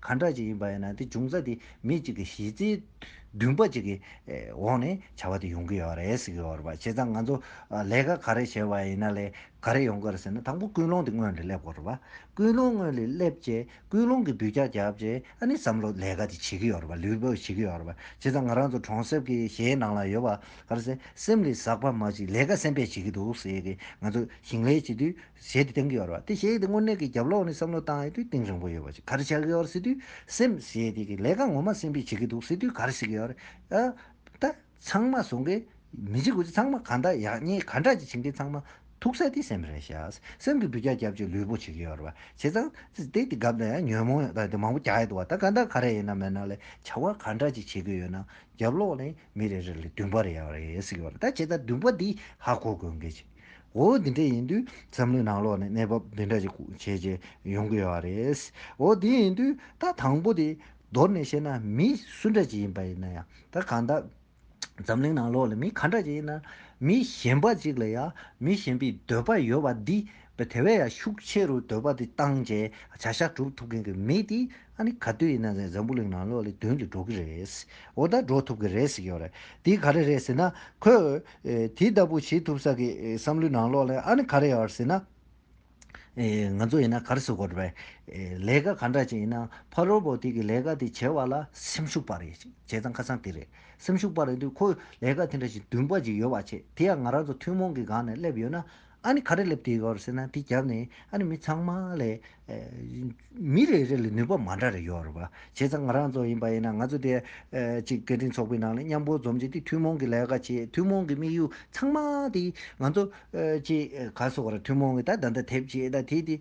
S1: གང་འདྲ་ཅིག་ཡིན་པ་ཡིན་ན་དེ་འབྱུང་རྩ་དེ་མི་གཅིག་གི་གཞི་རྩའི་འདུན་པ་གཅིག་གི་འོག་ནས་བྱ་བ་དེ་ཡོང་གི་ཡོད་རེད་ཟེར་གི་ཡོད་རེད། བྱས་ཙང་ང་ཚོ་ལས་ཀ་ག་རེ་བྱས་པ་ཡིན་ན་ལས་ག་རེ་ཡོང་གི་རེད་ཟེར་ན་དང་པོ་ཀུན་སློང་དེ་སྔོན་ལས་སླེབས་དགོས་རེད་བ། ཀུན་སློང་སྔོན་ལས་སླེབས་རྗེས་ཀུན་སློང་གི་འདུས་རྒྱ་བརྒྱབ་རྗེས་ཨ་ནི་བསམ་བློ་ལས་ཀ་དེ་བྱེད་ཀྱི་ཡོད་རེད་བ་ལུས་པོ་བྱེད་ཀྱི་ཡོད་རེད་བ། བྱས་ཙང་ང་རང་ཚོ་གྲོང་གསེབ་ཀྱི་གཞའི་ནང་ལ་ཡོད་པ་ག་རེ་ཟེར་སེམས་ལས་ཟག་པ་མ་ཅིག་ལས་ཀ་སེམས་པས་བྱེད་ཀྱི་འདུག་ཟེར་གི་ང་ཚོ་ཞིང་ལས་བྱེད་དུས་ཞེས་སྟེང་གི་བར་བ་སྟེ་ཞེས་ཏེ་དངོས་གནས་ཀྱི་རྒྱབ་ལོགས་ནས་བསམ་བློ་བཏང་ཡོད་དུས་སྟེང་རིང་པོ་ཡོད་པ་ཞིག་གར་བྱ་གི་བར་སྲིད་དུས་སེམས་ཞེས་ཏེ་ལས་ཀ་ངོ་མ་སེམས་པས་བྱེད་ཀྱི་འདུག་སྲིད་དུས་གར་བྱེད་ཀྱི་བར་ད་ཚང་མ་བཟོ་མཁན་མི་བྱེད་དགོས་ཚེ་ཚང་མ་གང་དག་ཡག་ཉེས་ག་འདྲ་ཅིག་བྱེད་མཁན་ཚང་མ་ཐུག་ས་དེ་སེམས་རེད་ཤག་སེམས་ཀྱི་འབུད་རྒྱག་རྒྱབ་ཅིག་ལུས་པོ་བྱེད་ཀྱི་བར་བ་བྱས་ཙང་སྟེ་དེ་གབ་ན་ཡང་ཉོན་མོངས་ཡོད་ད་དེ་མང་པོ་རྒྱག་ཡོད་འདུག་བ་ད་གང་དག་ག་རེ་ཡིན་ན་མེད་ན་ལས་བྱ་བ་ག་འདྲ་ཅིག་བྱེད་ཀྱི་ཡོད་ན་རྒྱབ་ལོགས་ནས་མི་རེ་རེ་ལས་བདུན་པ་རེ་ཡག་རེད་ཟེར་གྱི་བར་ད་བྱས་ཙང་བདུན་པ་འདི་ཧ་གོ་དགོས་གལ་ཆེ། འོ་འདི་འདྲ་ཡིན་དུས་བསམ་བློའི་ནང་ལོག་ནས་གནས་བབ་འདི་འདྲ་ཞིག་བྱེད་ཀྱི་ཡོང་གི་ཡོད་པ་རེད། འོ་དེ་ཡིན་དུས་ད་དང་པོ་དེ་མདོར་ནས་བཤད་ན་མི་སུ་འདྲ་ཅིག་ཡིན་པ་ཡིན་ན་ཡང་ད་གང་ལྟར་འཛམ་གླིང་ནང་ལོག་ལ་མི་ག་འདྲ་ཅིག་ཡིན་ན་མི་གཞན་པ་ཅིག་ལ་ཡང་མི་གཞན་པའི་འདོད་པ་ཡོད་པ་འདི་དེ་བས་ཡང་ཤུགས་ཆེ་རུ་འདོད་པ་དེ་བཏང་རྗེས་བྱ་བཞག་གྲུབ་ཐུབ་མཁན་གྱི་མི་དེ། ཨ་ནི་ག་དུས་ཡིན་ན་འཛམ་བུ་གླིང་ནང་གློག་ཀླད་དོན་གྱིས་འགྲོ་གི་རེད། འོ་ད་འགྲོ་ཐུབ་ཀྱི་རེད་ཟེར་གྱི་ཡོད་རེད། དེ་ག་རེ་རེད་ཟེར་ན། ཁོས། དེ་ལྟ་བུ་བྱེད་ཐུབ་ས་ཀྱི་བསམ་བློའི་ནང་གློག་ཀླད་ཨ་ནི་ག་རེ་ཡོད་ཟེར་ན། ང་ཚོ་ཡིན་ན་ག་རེ་བཟོ་དགོས་རེད། ལས་ཀ་ག་འདྲ་བྱེད་ཡིན་ན་ཕ་རོལ་པོ་དེ་གི་ལས་ཀ་དེ་བྱེད་པ་ལ་སེམས་ཤུགས་པ་རེད། བྱས་ཙང་ཁ་སང་དེ་རེད། སེམས་ཤུགས་པ་རེད་འདུག་ཁོས་ལས་ཀ་དེ་འདྲ་ཞིག་འདུན་པ་ཞིག་ཡོད་པ་བྱེད་དེ་ཡང་ང་རང་ཚོ་ཐུན་མོང་གི་སྒང་ནས་སླེབས་ཡོད་ན། ཨ་ནི་ག་རེ་སླེབས་དུས་ཡོད་ཟེར་ན་དེ་རྒྱབ་ནས་ཨ་ནི་མི་ཚང་མ་ལས་མི་རེ་རེ་ལ་ནུས་པ་མ་འདྲ་རེ་ཡོད་རེད་བ། བྱས་ཙང་ང་རང་ཚོ་ཡིན་པ་ཡིན་ན་ང་ཚོ་དེ་གཅིག་སྐད་འཕྲིན་ཚོགས་པའི་ནང་ལ་མཉམ་པོ་འཛོམས་རྗེས་དེ་ཐུན་མོང་གི་ལས་ཀ་བྱེད་ཐུན་མོང་གི་དམིགས་ཡུལ་ཚང་མ་དེ་ང་ཚོ་ཀྱི་ག་སོགས་ར་ཐུན་མོང་གི་ད་ད་ད་དེབ་བྱེད་ད་དེ་དེ་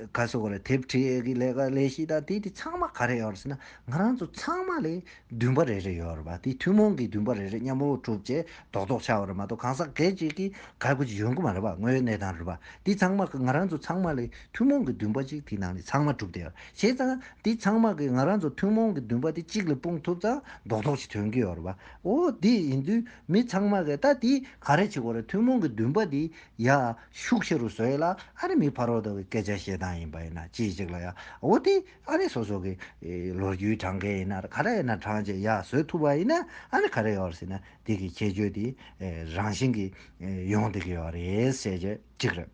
S1: ག་སོགས་ར་དེབ་ཁྲིད་ཀྱི་ལས་ཀ་ལས་བྱེད་ད་དེ་དེ་ཚང་མ་ག་རེ་ཡོད་རེད་ཟེར་ན་ང་རང་ཚོ་ཚང་མ་ལས་འདུན་པ་རེ་རེ་ཡོད་རེད་པ་དེ་ཐུན་མོང་གི་འདུན་པ་རེ་རེ་མཉམ་པོ་གྲུབ་རྗེས་རྡོག་རྡོག་ཆགས་པ་རེད་མ་གཏོགས་གང་ཟག་སྒེར་གཅིག་གིས་ག་དགོས་ཀྱི་ཡོད་མཁོ་མ་རེད་པ་དངོས་ཡོད་གནས་སྟངས་རེད་པ་དེ་ཚང་མ་ང་རང་ཚོ་ཚང་མ་ལས་ཐུན་མོང་གི་འདུན་པ་གཅིག་དེའི་ནང་ནས་ཚང་མ་གྲུབ་དེ་བྱས་ཙང་དེ་ཚང་མ་གིས་ང་རང་ཚོ་ཐུན་མོང་གི་འདུན་པ་དེ་གཅིག་ལ་སྤུངས་ཐུབ་ཙང་རྡོག་རྡོག་ཅིག་ཐོན་གྱི་ཡོད་རེད་པ་འོ་དེ་ཡིན་དུས་མི་ཚང་མ་གིས་ད་དེ་ག་རེ་བྱེད་དགོས་རེད་ཐུན་མོང་གི་འདུན་པ་དེ་ཡ་ཤུགས་ཆེ་རུ་བཟོས་ཡོད་ལ་ཨ་རི་མིའི་ཕར་རོགས་ལྟ་བུའི་སྐད་ཆ་བཤད་སྟངས་ཡིན་པ་ཡིན་ན་ཅི་ཞིག་ལ་ཡ་འོ་དེ་ཨ་རི་སོ་སོ་གི་ལོ་རྒྱུས་དྲངས་མཁན་ཡིན་ན་ག་རེ་ཡིན་ན་དྲངས་རྗེས་ཡར་བཟོས་ཐུབ་པ་ཡིན་ན་ཨ་རི་ག་རེ་ཡོད་རེད་ཟེར་ན་དེ་གི་ཁྱད་ཆོས་དེ་རང་བཞིན་གི་ཡོང་སྡོད་ཀྱི་ཡོད་རེད་བཤད་རྒྱུ་གཅིག་རེད།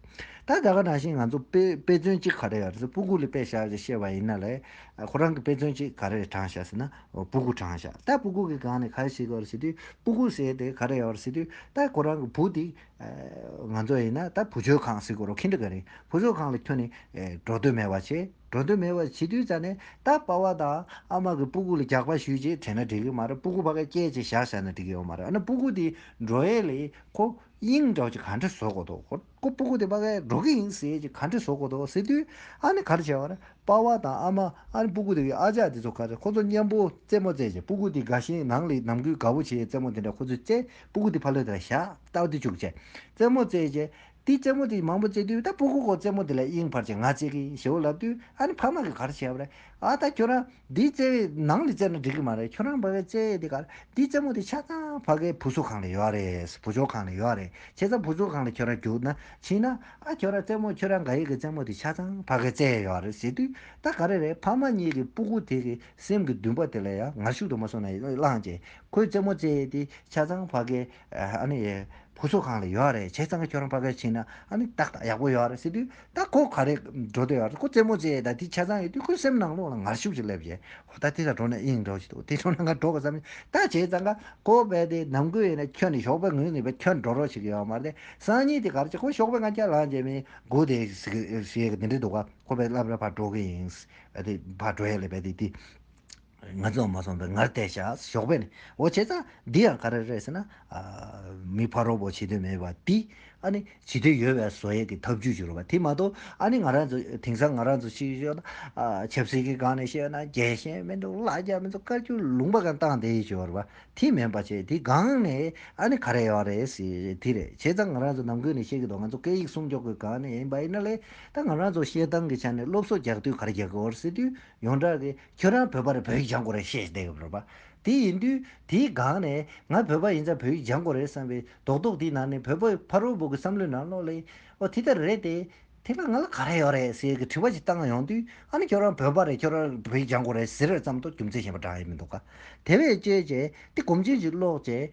S1: ད་ད་ག་ནང་བཞིན་ང་ཚོ་དཔེ་དཔེ་མཚོན་གཅིག་ག་རེ་ཡོད་རེད་ཟེར་སྤུ་གུ་ལ་དཔེ་བཞག་ཅེས་བཤད་པ་ཡིན་ན་ལས་ཁོ་རང་གི་དཔེ་མཚོན་གཅིག་ག་རེ་དྲངས་བཞག་ཟེར་ན་སྤུ་གུ་དྲངས་བཞག་ད་སྤུ་གུ་གི་སྒང་ནས་ག་རེ་ཞིག་ཡོད་རེད་ཟེར་དུས་སྤུ་གུ་ཟེར་དེ་ག་རེ་ཡོད་རེད་ཟེར་དུས་ད་ཁོ་རང་གི་བུ་དེ་ང་ཚོ་ཡིན་ན་ད་བུ་བཅོལ་ཁང་ཟེར་དགོས་རོགས་ཁིན་ཏུ་ག་རེ་ཡིན་བུ་བཅོལ་ཁང་ལ་ཁྱོད་ནི་འགྲོ་འདོད་མེད་པ་བྱེད། འགྲོ་འདོད་མེད་པར་བྱིས་དུས་རྩ་ནས་ད་པ་བ་དང་ཨ་མ་གི་སྤུ་གུ་ལ་རྒྱག་པ་ཞུས་རྗེས་དྲན་ན་འགྲིག་གི་མ་རེད་སྤུ་གུ་ཕ་ག་སྐྱེས་ཅེས་བཞག་བཞག་ན་འགྲིག་གི་ཡོད་མ་རེད་ཨ་ན་སྤུ་གུ་དེའི་འགྲོ་ཡས་ལས་ཁོ་གཡེང་འགྲོ་ཅེས་ག་འདྲས་བཟོ་དགོས་དོ་ཁོ་སྤུ་གུ་དེ་ཕ་གས་འགྲོ་གི་ཡིན་ཟེར་ཅེས་ག་འདྲས་བཟོ་དགོས་དོ་ཟེར་དུས་ཨ་ནི་ག་རེ་བྱས་བ་རེད་པ་བ་དང་ཨ་མ་ཨ་ནི་སྤུ་གུ་དེ་གའི་ཨ་ཅག་དེ་ཚོ་ག་རེ་ཁོ་ཚོ་གཉེན་པོ་རྩེད་མོ་རྩེད་རྗེས་སྤུ་གུ་དེ་དགའ་ཞིང་ནང་ལས་ནམ་གུས་དགའ་བོ་བྱེད་རྩེད་མོ་དེ་འདྲ་ཁོ་ཚོས་རྩེད་སྤུ་གུ་དེ་ཕ་ལོས་དེ་ལ་བཞག་སྟབས་བདེ་བཅུག་ཅེས་རྩེད་མོ་རྩེད་རྗེས་དེས་རྩེད་མོ་དེ་མང་པོ་རྩེ་དུས་ད་སྤུ་གུ་ཁོ་རྩེད་མོ་དེ་ལ་གཡེང་བར་གྱི་ང་རྩེ་གི་ཡིན་ཞེས་འོ་ལབ་དུས་ཨ་ནི་ཕ་མ་གིས་ག་རེ་བྱས་པ་རེད་ཨ་ད་ཁྱོད་རང་འདིའི་རྩེ་བའི་ནང་ལས་རྩེ་ན་འགྲིག་གི་མ་རེད་ཁྱོད་རང་བ་བའི་རྩེ་དེ་ག་རེད་འདིའི་རྩེ་མོ་དེ་ཆ་ཚང་བ་གའི་བུ་གསོ་ཁང་ལ་ཡོད་རེད་བུ་སྦྱོར་ཁང་ལ་ཡོད་རེད་བྱས་ཙང་བུ་སྦྱོར་ཁང་ལ་ཁྱོད་རང་རྒྱུགས་ན་ཕྱིན་ན་ཨ་ཁྱོད་རང་རྩེ་མོ་ཁྱོད་རང་ག་ཡིག་གི་རྩེ་མོ་དེ་ཆ་ཚང་བ་གའི་རྩེ་ཡོད་རེད་ཟེར་དུས་ད་ག་རེ་རེད་ཕ་མ་གཉིས་ཀྱིས་སྤུ་གུ་དེ་གི་སེམས་ཀྱི་འདུན་པ་དེ་ལ་ཡང་ངར་ཤུགས་དུ་མ་སོང་ན་ཡིན་བླངས་ཀྱིས་ཁོས་རྩེ་མོ་རྩེ་དེ་ཆ་ཚང་བ་གའི་ཨ་ནི། བུ་ཚོ་གང་ལ་ཡོད་རེད་བྱས་ཙང་ཁྱོད་རང་པ་བས་ཕྱིན་ན་ཨ་ནི་ཏག་ཏག་ཡག་པོ་ཡོད་རེད་ཟེར་དུས་ད་ཁོ་ག་རེ་འགྲོ་འདོད་ཡོད་རེད་ཁོ་རྩེད་མོ་རྩེ་ད་དེ་བྱས་ཙང་ཡོད་དུས་ཁོའི་སེམས་ནང་ལོག་ལ་ངར་ཤུགས་ཅིག་སླེབས་རྗེས་ཧོ་ད་དེ་འདྲ་འགྲོ་ན་ཨེ་ཡིན་འགྲོ་བཞིན་འདུག་དེ་འགྲོ་ན་ང་འགྲོ་དགོས་བསམ་བཞིན་ད་བྱས་ཙང་ཁ་ཁོ་བས་དེ་ནམ་དགོས་ཡོད་ན་ཁྱོད་ནི་ཞོགས་པའི་ངོས་ནས་བས་ཁྱོད་འགྲོ་རོགས་བྱེད་ཀྱི་ཡོད་མ་རེད་སང་ཉིན་དེ་གར་ཅིག་ཁོ་ཞོགས་པའི་ང་ཁྱེད་ལང་རྗེས་མིན་དགོས་དེ་ཞེས་དེ་འདྲའི་འདུག་ག་ཁོ་བས་སླབ་ར་བར་འགྲོ་གི་ཡིན་བས་དེ་བར་འགྲོ་ཡས་ལས་བས་དེ་དེ། ང་ཚོའང་མ་སོང་པས་ངར་བལྟས་བཞག་ཞོགས་པས་ནི། འོ་བྱས་ཙང་འདི་ཡང་ག་རེ་རེད་ཟེར་ན། མི་ཕ་རོགས་པོ་བྱེད་འདོད་མེད་པ་འདིས། ཨ་ནི་བྱེད་འདོད་ཡོད་པའི་བཟོ་ཡས་ཀྱི་ཐབས་ཇུས་བྱུ་རུ་བ་དེ་མ་གཏོགས་ཨ་ནི་ང་རང་ཚོ་དེང་སང་ང་རང་ཚོ་ཕྱི་ཕྱོགས་ན། ཆབ་སྲིད་ཀྱི་སྒང་ནས་བཤད་ན་རྒྱལ་ཞེན་མི་འདུག་ལ་རྒྱ་མི་ཚོ་དཀར་རྒྱུག་ལུང་པ་གང་བཏང་དེ་ཡིས་བྱུ་རུ་བ་དེ་མིན་པ་ཆེ་དེའི་སྒང་ནས་ཨ་ནི་ག་རེ་ཡོང་རེད་ཟེར་དེ་རེད་བྱས་ཙང་ང་རང་ཚོ་ནང་ཁུལ་ནས་བཤད་གི་འདུག་ང་ཚོ་སྐད་ཡིག་སྲུང་སྐྱོབ་ཀྱི་སྒང་ནས་ཡིན་པ་ཡིན་ན་ལེ། ད་ང་རང་ཚོ་བཤད་སྟངས་ཀྱི་ཆ་ནས་སློབ་གསོ་རྒྱག་དུས་ག་རེ་རྒྱག་གི་འོ་རེད་ཟེར་དུས་ཡོངས་གྲགས་ཀྱི། ཁྱོད་རང་བོད་པར་བོད་ཡིག་སྦྱང་དགོས་རེད་བཤད་བསྡད་ཡོད་རེད་པ། དེ་ཡིན་དུས་དེའི་སྒང་ནས་ང་བོད་པ་ཡིན་ཙང་བོད་ཡིག་སྦྱང་དགོས་རེད་བསམ་པའི་རྡོག་རྡོག་དེའི་ནང་ནས་བོད་པ་ཕ་རོལ་པོ་གི་བསམ་བློའི་ནང་བློ་ལས། ཨོ་དེ་ལྟར་རེད་དེ། དེ་སྔ་ང་ལ་ག་རེ་ཡོད་རེད་ཟེར་གི་དྲི་བ་ཞིག་བཏང་ཡོང་དུས་ཨ་ནི་ཁྱོད་རང་བོད་པ་རེད་ཁྱོད་རང་བོད་ཡིག་སྦྱང་དགོས་རེད་ཟེར་བའི་ཙམ་དུ་རྒྱུ་མཚན་གཞན་པ་བགྲང་ཡས་མི་འདུག་ག། དེ་བས་དཔྱད་བྱས་ཏེ་གོམ་ཆེན་ཞིག་སློག་བྱས།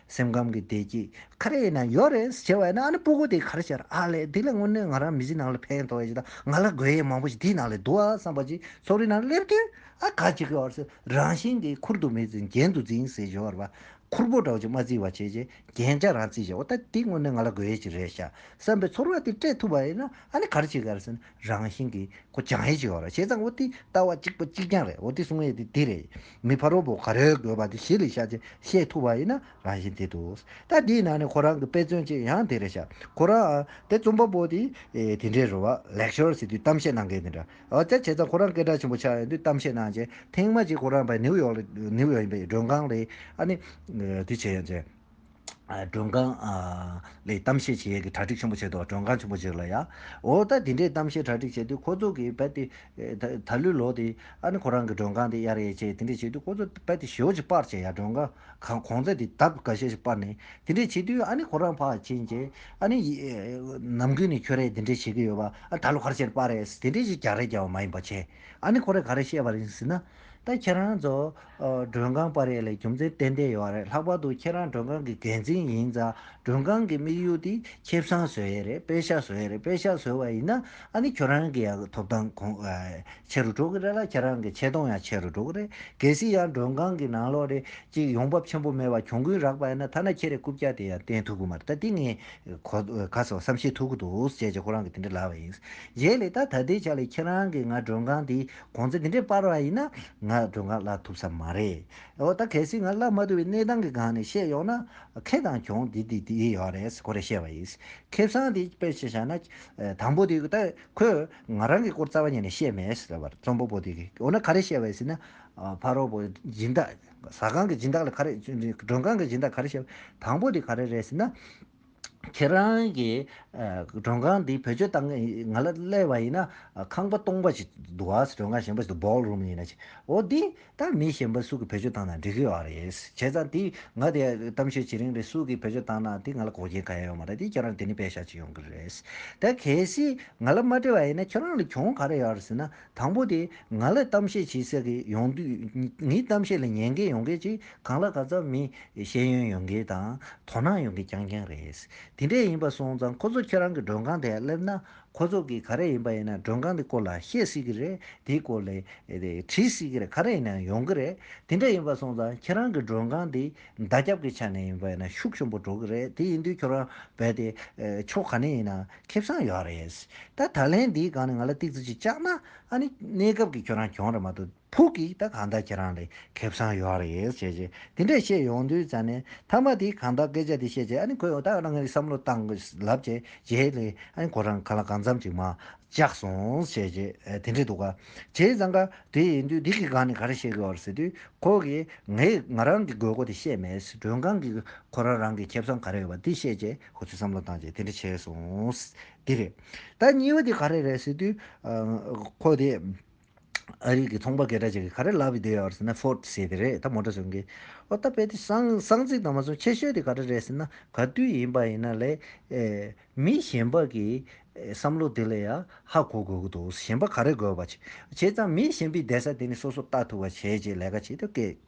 S1: སེམས་ཁམས་ཀྱི་བདེ་སྐྱིད་ག་རེ་ཡིན་ན་ཡོད་རེད་ཟེར་བ་ཡིན་ན་ཨ་ནི་སྤུ་གུ་དེ་ག་རེ་བྱས་ར་ཨ་ལས་འདི་ལས་དངོས་གནས་ང་རང་མི་ཚེ་ནང་ལ་ཕན་ཐོགས་ཡོད་ཅིག་དང་ང་ལ་དགོས་ཡས་མང་པོ་ཞིག་དེའི་ནང་ལས་འདུག་ཨ་བསམ་པ་ཅིག་ཚོགས་རིས་ནང་སླེབས་དུས་ཨ་ག་ཅིག་གི་བར་སུ་རང་བཞིན་གྱིས་ཁུར་དུ་མི་འཛིན་རྒྱན་དུ་འཛིན་ཟེར་བཞོར་བ་ཁུར་པོ་འདྲ་བོ་ཅིག་མ་བརྩི་བར་བྱས་རྗེས་རྒྱན་ཅག་རང་བརྩི་བྱས་འོ་ད་དེ་དངོས་གནས་ང་ལ་དགོས་ཡས་ཅིག་རེད་ཤག་བསམ་པའི་ཚོར་བ་དེ་སྤྲད་ཐུབ་པ་ཡིན་ན་ཨ་ནི་ག་རེ་བྱེད་དགོས་ར་ཟེར་ན། རང་བཞིན་གྱིས་ཁོ་ཅང་ཧེ་ཞེས་བ་ར་བྱས་ཙང་བོ་ཏིའི་ལྟ་བ་གཅིག་པ་གཅིག་རྐྱང་རེད་བོ་ཏི་གསུང་ཡས་དེ་དེ་རེད་མི་ཕ་རོལ་པོ་ག་རེ་དགོས་པ་དེ་གཞི་ལས་ཤ་ཆེན་ཤེས་ཐུབ་པ་ཡིན་ན་རང་བཞིན་དེ་འདུག་ད་དེའི་ནང་ནས་ཁོ་རང་གི་དཔེ་མཚོན་ཅིག་ཡང་དེ་རེད་ཤག་ཁོ་རང་ཨ་དེ་རྩོམ་པ་པོ་དེ་དེ་འདྲའི་རུ་བ Lecture ཟེར་དུས་གཏམ་བཤད་གནང་མཁན་དེ་འདྲ་ཨོ་ཅག་བྱས་ཙང་ཁོ་རང་སྐད་གྲགས་ཆེན་པོ་ཆགས་ཡོང་དུས་གཏམ་བཤད་གནང་རྗེས་ཐེངས་མ་གཅིག་ཁོ་རང་བས་ནིའུ་ཡོག་ལ་ནིའུ་ཡོག་ཡིན་པའི་མགྲོན་ཁང་ལས་ཨ་ནི་དེ་བྱས་ཡོང་རྗེས། མགྲོན་ཁང། ལས་གཏམ་བཤད་བྱེད་ཡས་ཀྱི་གྲ་སྒྲིག་ཆེན་པོ་བྱས་འདུག་མགྲོན་ཁང་ཆེན་པོ་ཞིག་ལ་ཡང། འོ་ད་དེ་འདྲའི་གཏམ་བཤད་གྲ་སྒྲིག་བྱས་དུས་ཁོ་ཚོ་གིས་རྦད་དེ། ད་ལོའི་ལོ་དེ། ཨ་ནི་ཁོ་རང་གི་མགྲོན་ཁང་དེ་གཡར་ཡས་བྱས་དེ་འདྲས་བྱས་དུས་ཁོ་ཚོ་རྦད་དེ་ཞོ་ཞིག་སྤར་བྱས་ཡ་མགྲོན་ཁང་གོང་ཚད་དེ་ད་ག་ཞེ་ཞིག་སྤར་ནས་དེ་འདྲས་བྱས་དུས་ཨ་ནི་ཁོ་རང་ཕ་ཨ་ཕྱིན་རྗེས་ཨ་ནི། ནམ་གུས་ནས་ཁྱོད་རས་དེ་འདྲས་བྱེད་ཀྱི་ཡོད་པ་ཨ་ད་ལོ་ག་རེ་བྱས་ནས་སྤར་རས་དེ་འདྲས་ཞིག་རྒྱག་རེས་རྒྱག་བ་མ་ཡིན་པ་བྱས་ཨ་ནི་ཁོ་རས་ག་རེ་བཤད་པ་རེད་ཟེར་ན། ད་ཁྱེད་རང་ཚོ་མགྲོན་ཁང་པར་ཡས་ལས་རྒྱུ་མཚན་གཏན་གཏན་ཡོད་རེད་ལྷག་པར་དུ་ཁྱེད་རང་མགྲོན་ཁང་གི་འགན་འཛིན་ཡིན་ཙང་མགྲོན་ཁང་གི་དམིགས་ཡུལ་དེ་ཁེ་བཟང་བཟོ་ཡས་རེད་དཔེ་ཆ་བཟོ་ཡས་རེད་དཔེ་ཆ་བཟོ་བ་ཡིན་ན་ཨ་ནི་ཁྱོད་རང་གི་ཡང་ཐོབ་ཐང་གོང་ཆེ་རུ་འགྲོ་གི་རེད་ལ་ཁྱེད་རང་གི་ཆེ་མཐོང་ཡང་ཆེ་རུ་འགྲོ་གི་རེད་གལ་སྲིད་ཡང་མགྲོན་ཁང་གི་ནང་ལོགས་རེད་ཅིག་ཡོང་འབབ་ཆེན་པོ་མེད་པར་གྱོང་གུན་རག་པ་ཡིན་ན་ཐ་ན་ཁྱེད་རའི་རྐུབ་བཀྱག་དེ་ཡང་བསྟན་ཐུབ་གི་མ་རེད་ད་དེ་ངས་གོ་ག་སོགས་བསམ་ཤེས་ཐུབ་གི་འདུག་ཅེས་ཀྱི་ཁོ་རང་གི་དེ་འདྲ་ལབ་པ་ཡིན་རྗེས་ལས་ད་ད་ལྟའི་ཆ་ལས་ཁྱེད་རང་གི་ང་མགྲོན་ཁང་དེ་གོང་ཚད་དེ་འདྲའི་སྤར་བ་ཡིན་ན་ང་སྒྲོལ་དཀར་བླ་ཐུབ་ས་མ་རེད། འོ་ད་གལ་སྲིད་ང་བླ་མ་ཐུབ་པའི་གནས་སྟངས་ཀྱི་སྒང་ནས་བཤད་ཡོང་ན། ཁེ་དང་གྱོང་དེ་དེ་དེ་ཡོད་རེད་ཁོ་རེ་བཤད་པ་ཡིན། ཁེ་བཟང་དེ་དཔེ་ཞིག་བཞག་ན། དང་པོ་དེ་ད་ཁོས་ང་རང་གི་སྐོར་རྩ་བ་ཉིད་ནས་བཤད་མེད་ཟེར་བར་རྩོམ་པོ་པོ་དེ་གིས་འོ་ན་ག་རེ་བཤད་པ་ཡིན་ཟེར་ན། ཕ་རོལ་པོ་སྦྱིན་བདག་ཟ་ཁང་གི་སྦྱིན་བདག་ལ་ག་རེ། མགྲོན་ཁང་གི་སྦྱིན་བདག་ག་རེ་བཤད་པ། དང་པོ་དེ་ག་རེ་རེད་ཟེར་ན། ཁྱེད་རང་གི་མགྲོན་ཁང་འདི་བེད་སྤྱོད་བཏང་ང་ལ་གླས་པ་ཡིན་ན་ཁང་པ་སྟོང་པ་ཞིག་འདུག་ཨ་མྲོན་ཁང་གཞན་པ་ཞིག་འདུག ball room ཡིན་ན་ཅིག་འོ་དེ་ད་མི་གཞན་པ་སུ་གི་བེད་སྤྱོད་བཏང་ན་འགྲིག་གི་ཨ་རེད་བྱས་ཙང་དེ་ང་དེ་གཏམ་བཤད་བྱེད་རིང་རེད་སུ་གི་བེད་སྤྱོད་བཏང་ན་དེ་ང་ལ་གོག་རྒྱན་ག་ཡ་ཡོད་མ་རེད་དེ་ཁྱེད་རང་དེ་ནས་བེད་བཞག་ཅིག་ཡོང་གི་རེད་ད་གལ་སྲིད་ང་ལ་མ་འདྲི་བ་ཡིན་ན་ཁྱེད་རང་ལ་གྱོང་ག་རེ་ཡོད་རེད་ཟེར་ན། དང་པོ་དེ་ང་ལ་གཏམ་བཤད་བྱེད་ས་གི་ཡོང་དུས་ངའི་གཏམ་བཤད་ལ་ཉན་མཁན་ཡོང་མཁན་གྱི་གང་ལ་ག་ཙམ་མི་ཤེས་ཡོན་ཡོད་མཁན་དང་དོ་སྣང་ཡོད་མཁན་རྐྱང་རྐྱང་རེད། དེ་འདྲས་ཡིན་པ་སོང་ཙང་ཁོ་ཚོ་ཁྱེད་རང་གི་མགྲོན་ཁང་དེ་སླེབས་ན་ཁོ་ཚོ་གིས་ག་རེ་ཡིན་པ་ཡིན་ན་མགྲོན་ཁང་དེ་སྐོར་ལ་བཤད་སྲིད་ཀྱི་རེད་དེའི་སྐོར་ལས་དྲིས་སྲིད་ཀྱི་རེད་ག་རེ་ཡིན་ཡང་ཡོང་གི་རེད་དེ་འདྲས་ཡིན་པ་སོང་ཙང་ཁྱེད་རང་གི་མགྲོན་ཁང་དེ་བརྡ་སྐྱབས་ཀྱི་ཆ་ནས་ཡིན་པ་ཡིན་ན་ཤུགས་ཆེན་པོ་འགྲོ་གི་རེད་དེ་ཡིན་དུས་ཁྱོད་རང་རྦད་དེ་ཕྱོགས་ག་ནས་ཡིན་ན། ཁེ་བཟང་ཡོད་རེད། ད་ད་ལན་འདིའི་སྒང་ནས་ང་ལ་སྟེགས་བརྩི་ཅིག་བཅག་ན། ཨ་ནི་གནས་སྐབས་ཀྱི་ཁྱོད་རང་གྱོང་རེད་མ་གཏོགས་ཕུགས་ཀྱི་ད་གང་ལྟར་ཁྱེད་རང་ལས་ཁེ་བཟང་ཡོད་རེད་བྱས་རྗེས་དེ་འདྲས་བཤད་ཡོང་དུས་ཙཱ་ནས་མཐའ་མ་དེ་གང་ལྟར་སྐད་ཆ་དེ་བཤད་རྗེས་ཨ་ནི་ཁོས་འོ་ད་རང་གི་བསམ་བློ་བཏང་དགོས་ལབ་བྱས་རྗེས་ལས་ཨ་ནི་ཁོ་རང་གང་ལ་གང་འཚམ་ཅིག་མ་བཅག་སོང་བྱས་རྗེས་དེ་འདྲས་འདུག་ག་བྱས་ཙང་ག་དེ་ཡིན་དུས་འདི་གི་སྒང་ནས་ག་རེ་བཤད་གི་ཡོད་ཟེར་དུས་ཁོ་གིས་ངས་ང་རང་གི་དགོས་མཁོ་དེ་བཤད་མེད་མགྲོན་ཁང་གིས་ཁོ་རང་རང་གི་ཁེ་བཟང་ག་རེ་ཡོད་པ་དེ་བཤད་རྗེས་ཁོ་ཚོས་བསམ་བློ་བཏང་རྗེས་དེ་འདྲ་བྱས་སོང། དེ་རེད། ད་སྙི་བ་དེ་ག་རེ་རེད་ཟེར་དུས། ཁོ་དེ་ཨ་རིག་གི་ཚོང་པ་སྐད་གྲགས་ཅིག་གིས་ག་རེ་ལབ་ཡོད་ཡོད་ཟེར་ན Ford ཟེར་དེ་རེད་ད་མོ་ཏོར་སོན་གི། ཨོ་ད་དཔེ་དེ་སང་ཚིག་དང་མ་སོང་ཆེ་ཤོས་དེ་ག་རེ་རེད་ཟེར་ན་ག་དུས་ཡིན་པ་ཡིན་ན་ལས། མི་གཞན་པ་གི་བསམ་བློ་དེ་ལས་ཡ་ཧ་གོ་དགོས་ཀྱི་འདུག་གཞན་པ་ག་རེ་དགོས་པ། བྱས་ཙང་མི་གཞན་པའི་བསྡད་ས་དེ་ནི་སོ་སོར་བལྟ་ཐུབ་པ་བྱས་རྗེས་ལས་ཀ་བྱེད་དུ་སྐད།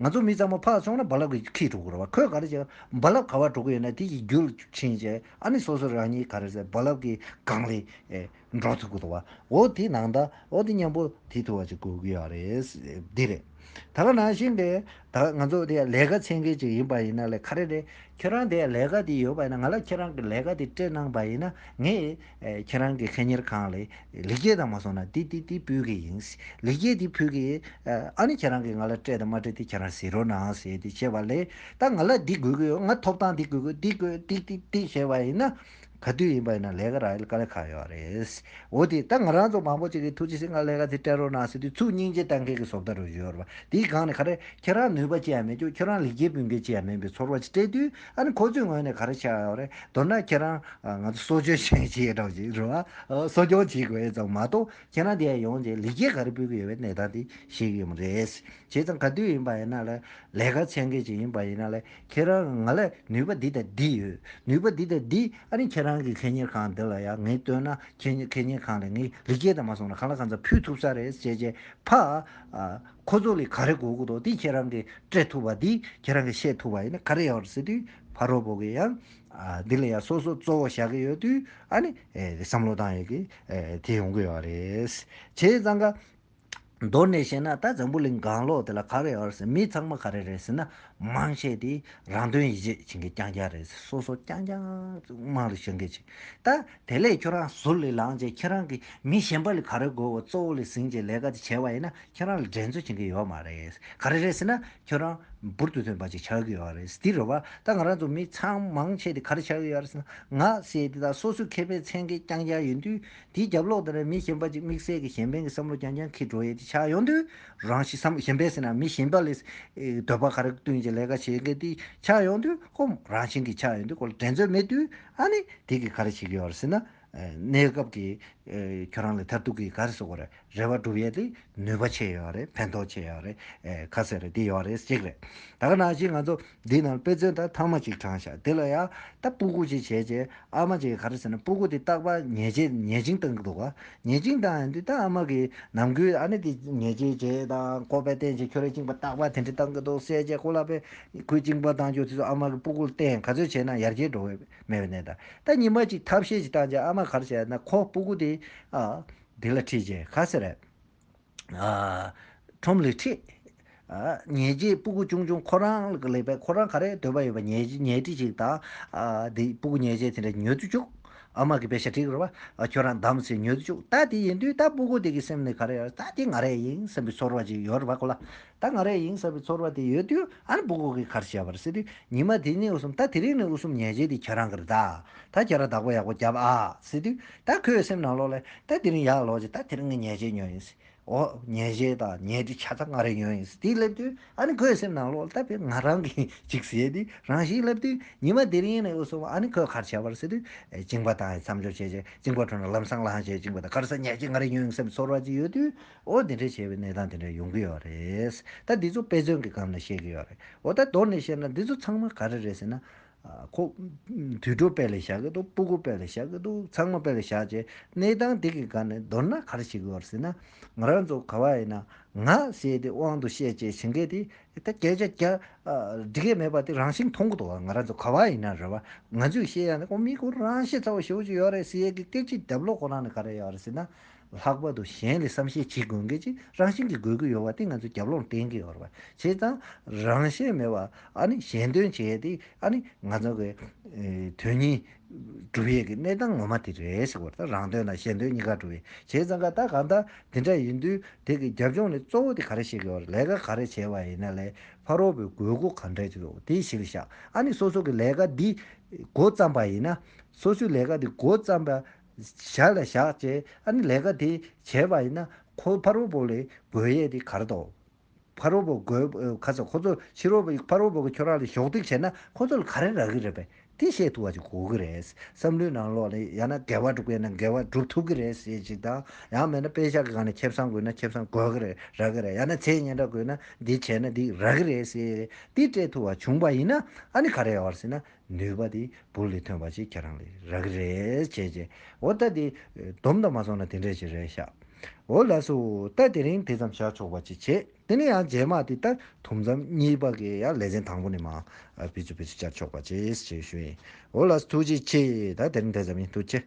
S1: ང་ཚོ་མི་ཚང་མ་ཕར་སོང་ན་རྦ་རླབས་ཀྱིས་ཁེགས་འགྲོ་དགོས་རེད་བ་ཁོས་ག་རེ་བྱས་རྦ་རླབས་ག་བར་འགྲོ་གི་ཡོད་ན་དེ་ཡི་རྒྱུ་ཕྱིན་ཆད་ཨ་ནི་སོ་སོ་རང་ཉིད་ག་རེ་བྱས་རྦ་རླབས་ཀྱི་སྒང་ལས་འགྲོ་ཐུབ་དགོས་རེད་བ་འོ་དེ་ནང་ད་འོ་དེ་སྙམ་པོ་དེ་ཐུབ་བ་ཅིག་དགོས་ཀྱི་ཡོད་རེད་འདི་རེད། ད་ག་ནང་བཞིན་གྱི་ད་ང་ཚོ་དེ་ལས་ཀ་ཚན་མཁན་ཅིག་ཡིན་པ་ཡིན་ན་ལས་ག་རེ་རེད་ཁྱོད་རང་དེ་ལས་ཀ་དེ་ཡོད་པ་ཡིན་ན་ང་ལ་ཁྱོད་རང་གི་ལས་ཀ་དེ་སྤྲད་གནང་བ་ཡིན་ན་ངས་ཁྱེད་རང་གི་ཁེ་གཉེར་ཁང་ལས་ལེགས་སྐྱེས་དང་མ་སོང་ན་དེ་དེ་དེ་ཕུལ་གི་ཡིན། ལེགས་སྐྱེས་དེ་ཕུལ་གི། ཨ་ནི་ཁྱེད་རང་གིས་ང་ལ་སྤྲད་དང་མ་སྤྲད་དེ་ཁྱེད་རང་ཟེར་རོ་ན་ཨང་ཟེར་ཏེ་བྱས་པ་ལས་ད་ང་ལ་འདི་དགོས་ཀྱི་ཡོད་ང་ཐོབ་ཐང་འདི་དགོས་ཀྱི་འདི་དགོས་ཏིག་ཏིག་ཏིག་བྱས་པ་ཡིན་ན། ག་དུས་ཡིན་པ་ཡིན་ན་ལས་ཀ་རག་ཡོད་ལ་དཀའ་ལས་ཁག་ཡོད་རེད། འོ་དེ་ད་ང་རང་ཚོ་མང་པོ་ཅིག་གིས་ཐུགས་རྗེ་ཆེ་ང་ལས་ཀ་དེ་སྤྲད་རོགས་གནང་ཟེར་དུས་ཚུར་སྙིང་རྗེ་གཏང་མཁན་གྱི་བཟོ་ལྟ་རུ་གཞོལ་བ་དེའི་སྒང་ནས་ཁ་རས་ཁྱེད་རང་ནུས་པ་ཅི་ཡང་མེད་ཀྱང་ཁྱོད་རང་ལེགས་སྐྱེས་ཕུལ་མཁན་ཅི་ཡང་མིན་པའི་ཚོར་བ་ཅིག་སྤྲད་དུས། ཨ་ནི་ཁོ་ཚོའི་ངོས་ནས་ག་རེ་བྱ་ཡོད་རེད་མདོར་ན་ཁྱེད་རང་ང་ཚོ་གསོ་སྐྱོང་བྱེད་ཀྱི་ཡོད་གྲོགས་ཅིག་རེད་བ། གསོ་སྐྱོང་བྱེད་དགོས་ཙང་མ་གཏོགས་ཁྱེད་རང་འདི་ཡ་ཡོང་རྗེས་ལེགས་སྐྱེས་ག་རེ་སྤུད་ཀྱི་ཡོད་པའི་གནས་སྟངས་དེ་ཤེས་ཀྱི་ཡོད་མ་རེད། བྱས་ཙང་ག་དུས་ཡིན་པ་ཡིན་ན་ལས་ལས་ཀ་ཚན་ཁེ་ཅིག་ཡིན་པ་ཡིན་ན་ལས་ཁྱེད་རང་ང་ལས་ནུས་པ་འདི་དང་འདི་ཡོད་ནུས་པ་འདི་དང་འདི་ཨ་ནི་ཁྱེད་རང་གི་ཁེ་གཉེར་ཁང་འདི་ལ་ཡ་ངས་ལྟོས་ན་ཁེ་ཁེ་གཉེར་ཁང་ལས་ངས་ལེགས་སྐྱེས་དང་མ་སོང་ན་གང་ལ་གང་འཚམ་ཕུལ་ཐུབ་ས་རེད་ཅེས་ཅེས་ཕ། ཁོ་ཚོ་ལས་ག་རེ་གོ་གི་འདུག་དེ་ཁྱེད་རང་གིས་སྤྲད་ཐུབ་པ་འདིས་ཁྱེད་རང་གིས་བཤད་ཐུབ་པ་ཡིན་ན་ག་རེ་ཡོད་རེད་ཟེར་དུས་ཕ་རོལ་པོ་གིས་ཡང། འདི་ལ་ཡང་སོ་སོ་གཙོ་བོ་བཞག་གི་ཡོད་དུས་ཨ་ནི། བསམ་བློ་བཏང་ཡོད་ཀི། དེ་ཡོང་གི་ཡོད་རེད། བྱས་ཙང་ཀ། མདོར་ནས་བཤད་ན་ད་འཛམ་བུ་གླིང་སྒང་ལོགས་དེ་ལ་ག་རེ་ཡོད་ཟེར་མི་ཚང་མ་ག་རེ་རེད་ཟེར་ན་མང་ཆེ་དེ་རང་དོན་ཡིད་ཆེས་བྱེད་མཁན་རྐྱང་རྐྱང་རེད་ཟེར་སོ་སོ་རྐྱང་རྐྱང་དམངས་རིགས་བྱེད་མཁན་བྱེད་ད། དེ་ལས་ཁྱོད་རང་ཟུར་ལས་ལངས་རྗེས་ཁྱེད་རང་གིས་མི་གཞན་པ་ལས་ག་རེ་དགོས་བ་གཙོ་བོ་ལས་ཟིན་རྗེས་ལས་ཀ་དེ་བྱས་བ་ཡིན་ན་ཁྱེད་རང་ལ་འགྲན་རྩོད་བྱེད་མཁན་ཡོད་མ་རེད། ག་རེ་རེད་ཟེར་ན་ཁྱོད་རང་འབུར་དུ་ཐོན་པ་ཅིག་ཆགས་ཀྱི་ཡོད་རེད་འདི་རེད་བ། ད་ང་རང་ཚོ་མི་ཚང་མང་ཆེ་དེ་ག་རེ་ཆགས་ཀྱི་ཡོད་རེད་ཟེར་ན་ང་ཞེས་དེ་དག་སོ་སོའི་མཁས་པའི་མཚན་གྱིས་རྐྱང་རྐྱང་ཡོད་དུས་དེའི་རྒྱབ་ལོག་དེ་ནས་མི་གཞན་པ་ཅིག་དམིགས་བསལ་གྱི་གཞན་ཕན་གྱི་བསམ་བློ་རྐྱང་རྐྱང་འཁྱེར་འགྲོ་ཡས་དེ་ཆགས་ཡོང་དུས་རང་གཞི་བསམ་བློ་གཞན་ཕན་ཟེར་ན་མི་གཞན་པ་ལས་འདོད་པ་ག་རེ་བསྟུན་རྗེས་ལས་ཀ་བྱེད་མཁན་དེ་ཆགས་ཡོང་དུས་ཧོ་རང་བཞིན་གྱིས་ཆགས་ཡོང་དུས་ཁོ་ལ་འགྲན་རྩོད་མེད་དུས། ཨ་ནི་དེ་གི་ག་རེ་བྱེད་ཀྱི་ཡོད་རེད་ཟེར་ན། གནས་སྐབས་ཀྱི་ཁྱོད་རང་ལ་མཐར་ཐུག་གི་ག་རེ་སོགས་རེ་བ་སྒྲུབ་ཡས་དེ་ནུས་པ་ཆེ་ཡོད་རེད་ཕན་ཐོག་ཆེ་ཡོད་རེད་ཁ་ཟེར་རེ་དེ་ཡོད་རེད་གཅིག་རེད། ད་ག་ནང་བཞིན་ང་ཚོ་འདི་ནང་དཔེ་མཚོན་དང་ཐང་མ་གཅིག་དྲངས་ཤག་དེ་ལ་ཡང་ད་སྤུ་གུ་ཅིག་བྱས་རྗེས་ཨ་མ་ཅིག་ག་རེ་ཟེར་ན་སྤུ་གུ་དེ་སྟག་པ་ཉལ་ཆེ་ཉལ་ཅིང་བཏང་གི་འདུག་ག་ཉལ་ཅིང་བཏང་ཡང་དེ་ད་ཨ་མ་གི་ནམ་གུས་ཨ་ནི་དེ་ཉལ་ཆེ་བྱས་དང་ཀོ་པའི་སྟེང་ཆེ་ཁྱོད་རེ་བཅིངས་པ་སྟག་པ་དེ་འདྲ་བཏང་གི་འདུག་བསད་རྗེས་ཁོ་ལ་པའི། ཁོའི་གཅིན་པ་བཏང་ཆོག་དེ་ཚོ་ཨ་མ་གི་སྤུ་གུར་བསྟན་ག་ཚོད་བྱས་ན་ཡར་རྒྱས་འགྲོ་འོས་མེད་པའི་གནས་ད། ད་ཉི་མ་གཅིག་ཐབས་ཤེས་ཅིག་བཏང་རྗེས་ཨ་མ་གར་བྱས་ན་ཁོ་སྤུ་གུ་དེ། ཨ། དེ་ལ་ཁྲིད་རྗེས་ག་ཟེར། ཨ། ཁྲོམ་ལས་ཁྲིད། ཨ། ཉལ་རྗེས་སྤུ་གུ་ཆུང་ཆུང་ཁོ་རང་ལ་ལེགས་པས་ཁོ་རང་ག་རེ་འདོད་པ་ཡོད་པ་ཉལ་རྗེས་ཉལ་ཁྲིད་ཅིག་དང། ཨ། དེ་སྤུ་གུ་ཉལ་རྗེས་དེ་འདྲ་ཉོལ་དུ་བཅུག། ཨ་མ་གི་བེ་ཤ་དྲིག་རོགས། ཨ། ཁྱོད་རང་བདམས་ཚེ་ཉོལ་དུ་བཅུག་ད་དེ་ཡིན་དུས་ད་སྤུ་གུ་དེ་གི་སེམས་ནི་ག་རེ་ཡོད་ད་དེ་ང་རེ་ཡིན་བསམ་པའི་ཚོར་བ་ཅིག་ཡོད་རེ་བ་གོ་ལ། ད་ང་རེ་ཡིན་ཟེར་བའི་ཚོར་བ་དེ་ཡོད་དུས་ཨ་རི་སྦུག་སྦུག་གིས་གར་བྱས་པར་སེ་དུས་ཉི་མ་དེ་གཉིས་འུ་གསུམ་ད་དེ་རིང་ནས་འུ་གསུམ་ཉལ་བྱས་དུས་ཁྱེད་རང་གིར་ད་ད་ཁྱེད་རང་བདག་པོ་ཡག་པོ་རྒྱབ་ཨ་སེ་དུས་ད་ཁོའི་སེམས་ནང་ལོག་ལེ་ད་དེ་རིང་ཡག་ལོག་ཅིག་ད་དེ་རིང་ངས་ཉལ་བྱས་ཉོན་ཡིན་སེ་འོ་ཉལ་བྱས་ད་ཉལ་དུས་ཁྱེད་ད་ང་རེ་ཉོན་ཡིན་སེ་དེ་སླེབས་དུས་ཨ་ནི་ཁོའི་སེམས་ནང་ལོག་ལེ་ད་དཔེར་ང་རང་གིས་ཅིག་བྱས་དུས་རང་ཞིག་སླེབས་དུས་ཉི་མ་དེ་རིང་ནས་འུ་གསུམ་ཨ་ནི་ཁོས་གར་བྱས་པར་སེ་དུས་བཅིངས་པ་དང་མཚམས་སྦྱོར་བྱས་བཅིངས་པ་ཁྲོད་ན་ལམ་སང་ལངས་བྱས་བཅིངས་པ་དང་གར་སར་ཉལ་བྱས་ང་རེ་ཉོན་ཡིན་ཟེར་བའི་ཚོར་བ་ཅིག་ཡོད་དུས་འོ་དེ་འདྲའི་བྱས་པའི་གནས་སྟངས་དེ་འདྲ་ཡོང་གི་ཡོད་རེད། ད་འདི་ཚོ་དཔེ་མཚོན་གྱི་སྒང་ནས་བཤད་ཀྱི་ཡོད་རེད། འོ་ད་མདོར་ནས་བཤད་ན་འདི་ཚོ་ཚང་མ་ག་རེ་རེད་ཟེར་ན། ཁོ། དུད་འགྲོ་དཔེ་ལས་བཞག་གི་འདུག་སྤུ་གུ་དཔེ་ལས་བཞག་གི་འདུག་ཚང་མ་དཔེ་ལས་བཞག་རྗེས་གནས་སྟངས་དེ་གི་སྒང་ནས་མདོར་ན་ག་རེ་བྱེད་ཀྱི་ཡོད་ཟེར་ན། ང་རང་ཚོ་ག་བ་ཡིན་ན། ང་ཟེར་དེ་དབང་དུ་བཤད་ཅེས་བྱེད་མཁན་དེ། ད་སྐད་ཆ་རྒྱ། འདྲི་མཁན་མེད་པ་དེ་རང་བཞིན་མཐོང་གི་འདུག་ང་རང་ཚོ་ག་བ་ཡིན་ན་རེད་བ། ང་ཚོས་བཤད་ཡ་ན་ཁོ་མི་ཁོ་རང་ཤེས་ཚ་བོ་ཞེ་བོ་ཅིག་ཡོད་རེད་ཟེར་ཡས་ཀྱི་སྐད་ཆའི་རྒྱབ་ལོག་ཁོ་རང་ནས་ག་རེ་ཡོད་རེད་ཟེར་ན། ལྷག་པར་དུ་གཞན་ལས་བསམ་ཤེས་བྱེད་དགོས་མཁན་གྱི་རང་བཞིན་གྱི་དགོས་མཁོ་ཡོད་པ་དེ་ང་ཚོས་རྒྱབ་ལོག་གཏན་འཁེལ་ཡོད་རེད། བྱས་ཙང་རང་བཞིན་མེད་པར་ཨ་ནི་གཞན་དོན་བྱས་ཏེ་ཨ་ནི་ང་ཚོ་གི་དོན་གཉིས་སྒྲུབ་ཡས་ཀྱི་གནས་སྟངས་ངོ་མ་དེ་རེད་ཞེས་བར་ཐག་རང་དོན་དང་གཞན་དོན་གཉིས་ཀ་སྒྲུབ་ཡས་བྱས་ཙང་ཀ་ད་གང་ལྟར་དེ་འདྲ་ཡིན་དུས་དེ་གི་རྒྱབ་ལྗོངས་ནི་གཙོ་བོ་དེ་ག་རེ་བྱེད་དགོས་རེད་ལས་ཀ་ག་རེ་བྱས་པ་ཡིན་ན་ལས་ཕ་རོལ་པོའི་དགོས་མཁོ་ག་འདྲ་ཅིག་རེད་དེ་ཞིག་བཞག་ཨ་ནི་སོ་སོ་གི་ལས་ཀ་འདི་མགོ་བརྩམས་པ་ཡིན་ན་སོ་སོའི་ལས་ཀ་འདི་མགོ་བརྩམས་པ་བཞག་ལ་བཞག་ཅེས་ཨ་ནི་ལས་ཀ་དེ་བྱས་པ་ཡིན་ན་ཁོའི་ཕ་རོལ་པོ་ལས་དགོས་ཡས་དེ་གར་དོ། ཕ་རོལ་པོ་དགོས་ཁ་ཚ་ཁོ་ཚོ་ཕྱི་རོལ་པོ་ཕ་རོལ་པོ་གི་ཁྱོད་རང་ལ་གཞོགས་འདེགས་བྱས་ན་ཁོ་ཚོ་ལ་ག་རེ་རག་གི་རེད་པས་དེ་བཤད་ཐུབ་པ་ཅིག་དགོས་ཀྱི་རེད། བསམ་བློའི་ནང་ལོག་ལ་ཡང་ན་འགལ་བ་འགྲོ་གི་ཡིན་ན་འགལ་བ་བསྒྲུབ་ཐུབ་ཀྱི་རེད་ཞེས་ཅིག་དང་ཡང་མེད་ན་དཔེ་བཞག་གི་སྒང་ནས་ཁེབས་སྲང་དགོས་ན་ཁེབས་སྲང་དགོས་ཀྱི་རེད་རག་གི་རེད་ཡང་ན་ཚེ་སྙན་གྲགས་དགོས་ན་འདི་བྱས་ན་འདི་རག་གི་རེད་ཟེར་དེ་སྤྲད་ཐུབ་བ་བྱུང་བ་ཡིན་ན་ཨ་ནི་ག་རེ་ཡོང་བར་སྲིད་ན་ནུས་པ་དེ་བུ་ལས་ཐོན་པ་ཞིག་ཁྱེད་རང་ལས་རག་གི་རེད་བྱས་བྱས་འོ་ལྟ་དེ་སྡོམ་དང་མ་སོང་ན་དེ་འདྲས་ཞིག་རེད་ཤག་འོ་ལགས་སོ་ལྟ་དེ་རིང་དེ་ཙམ་བཞག་ཆོག་པ་ཅིག་བྱས་དེ་ནས་ཡང་རྗེས་མ་དེ་ལྟར་དུམ་ཙམ་གཉིས་པ་གི་ཡང་ལས་ཚན་དང་པོ་ནས་མ་བེད་སྤྱོད་བེད་སྤྱོད་བསྐྱར་ཆོག་པ་ཅིག་བྱས་ཞུ་ཡིན་འོ་ལགས་སོ་ཐུགས་རྗེ་ཆེ་ད་དེ་རིང་དེ་ཙམ་ཡིན་ཐུགས་རྗེ།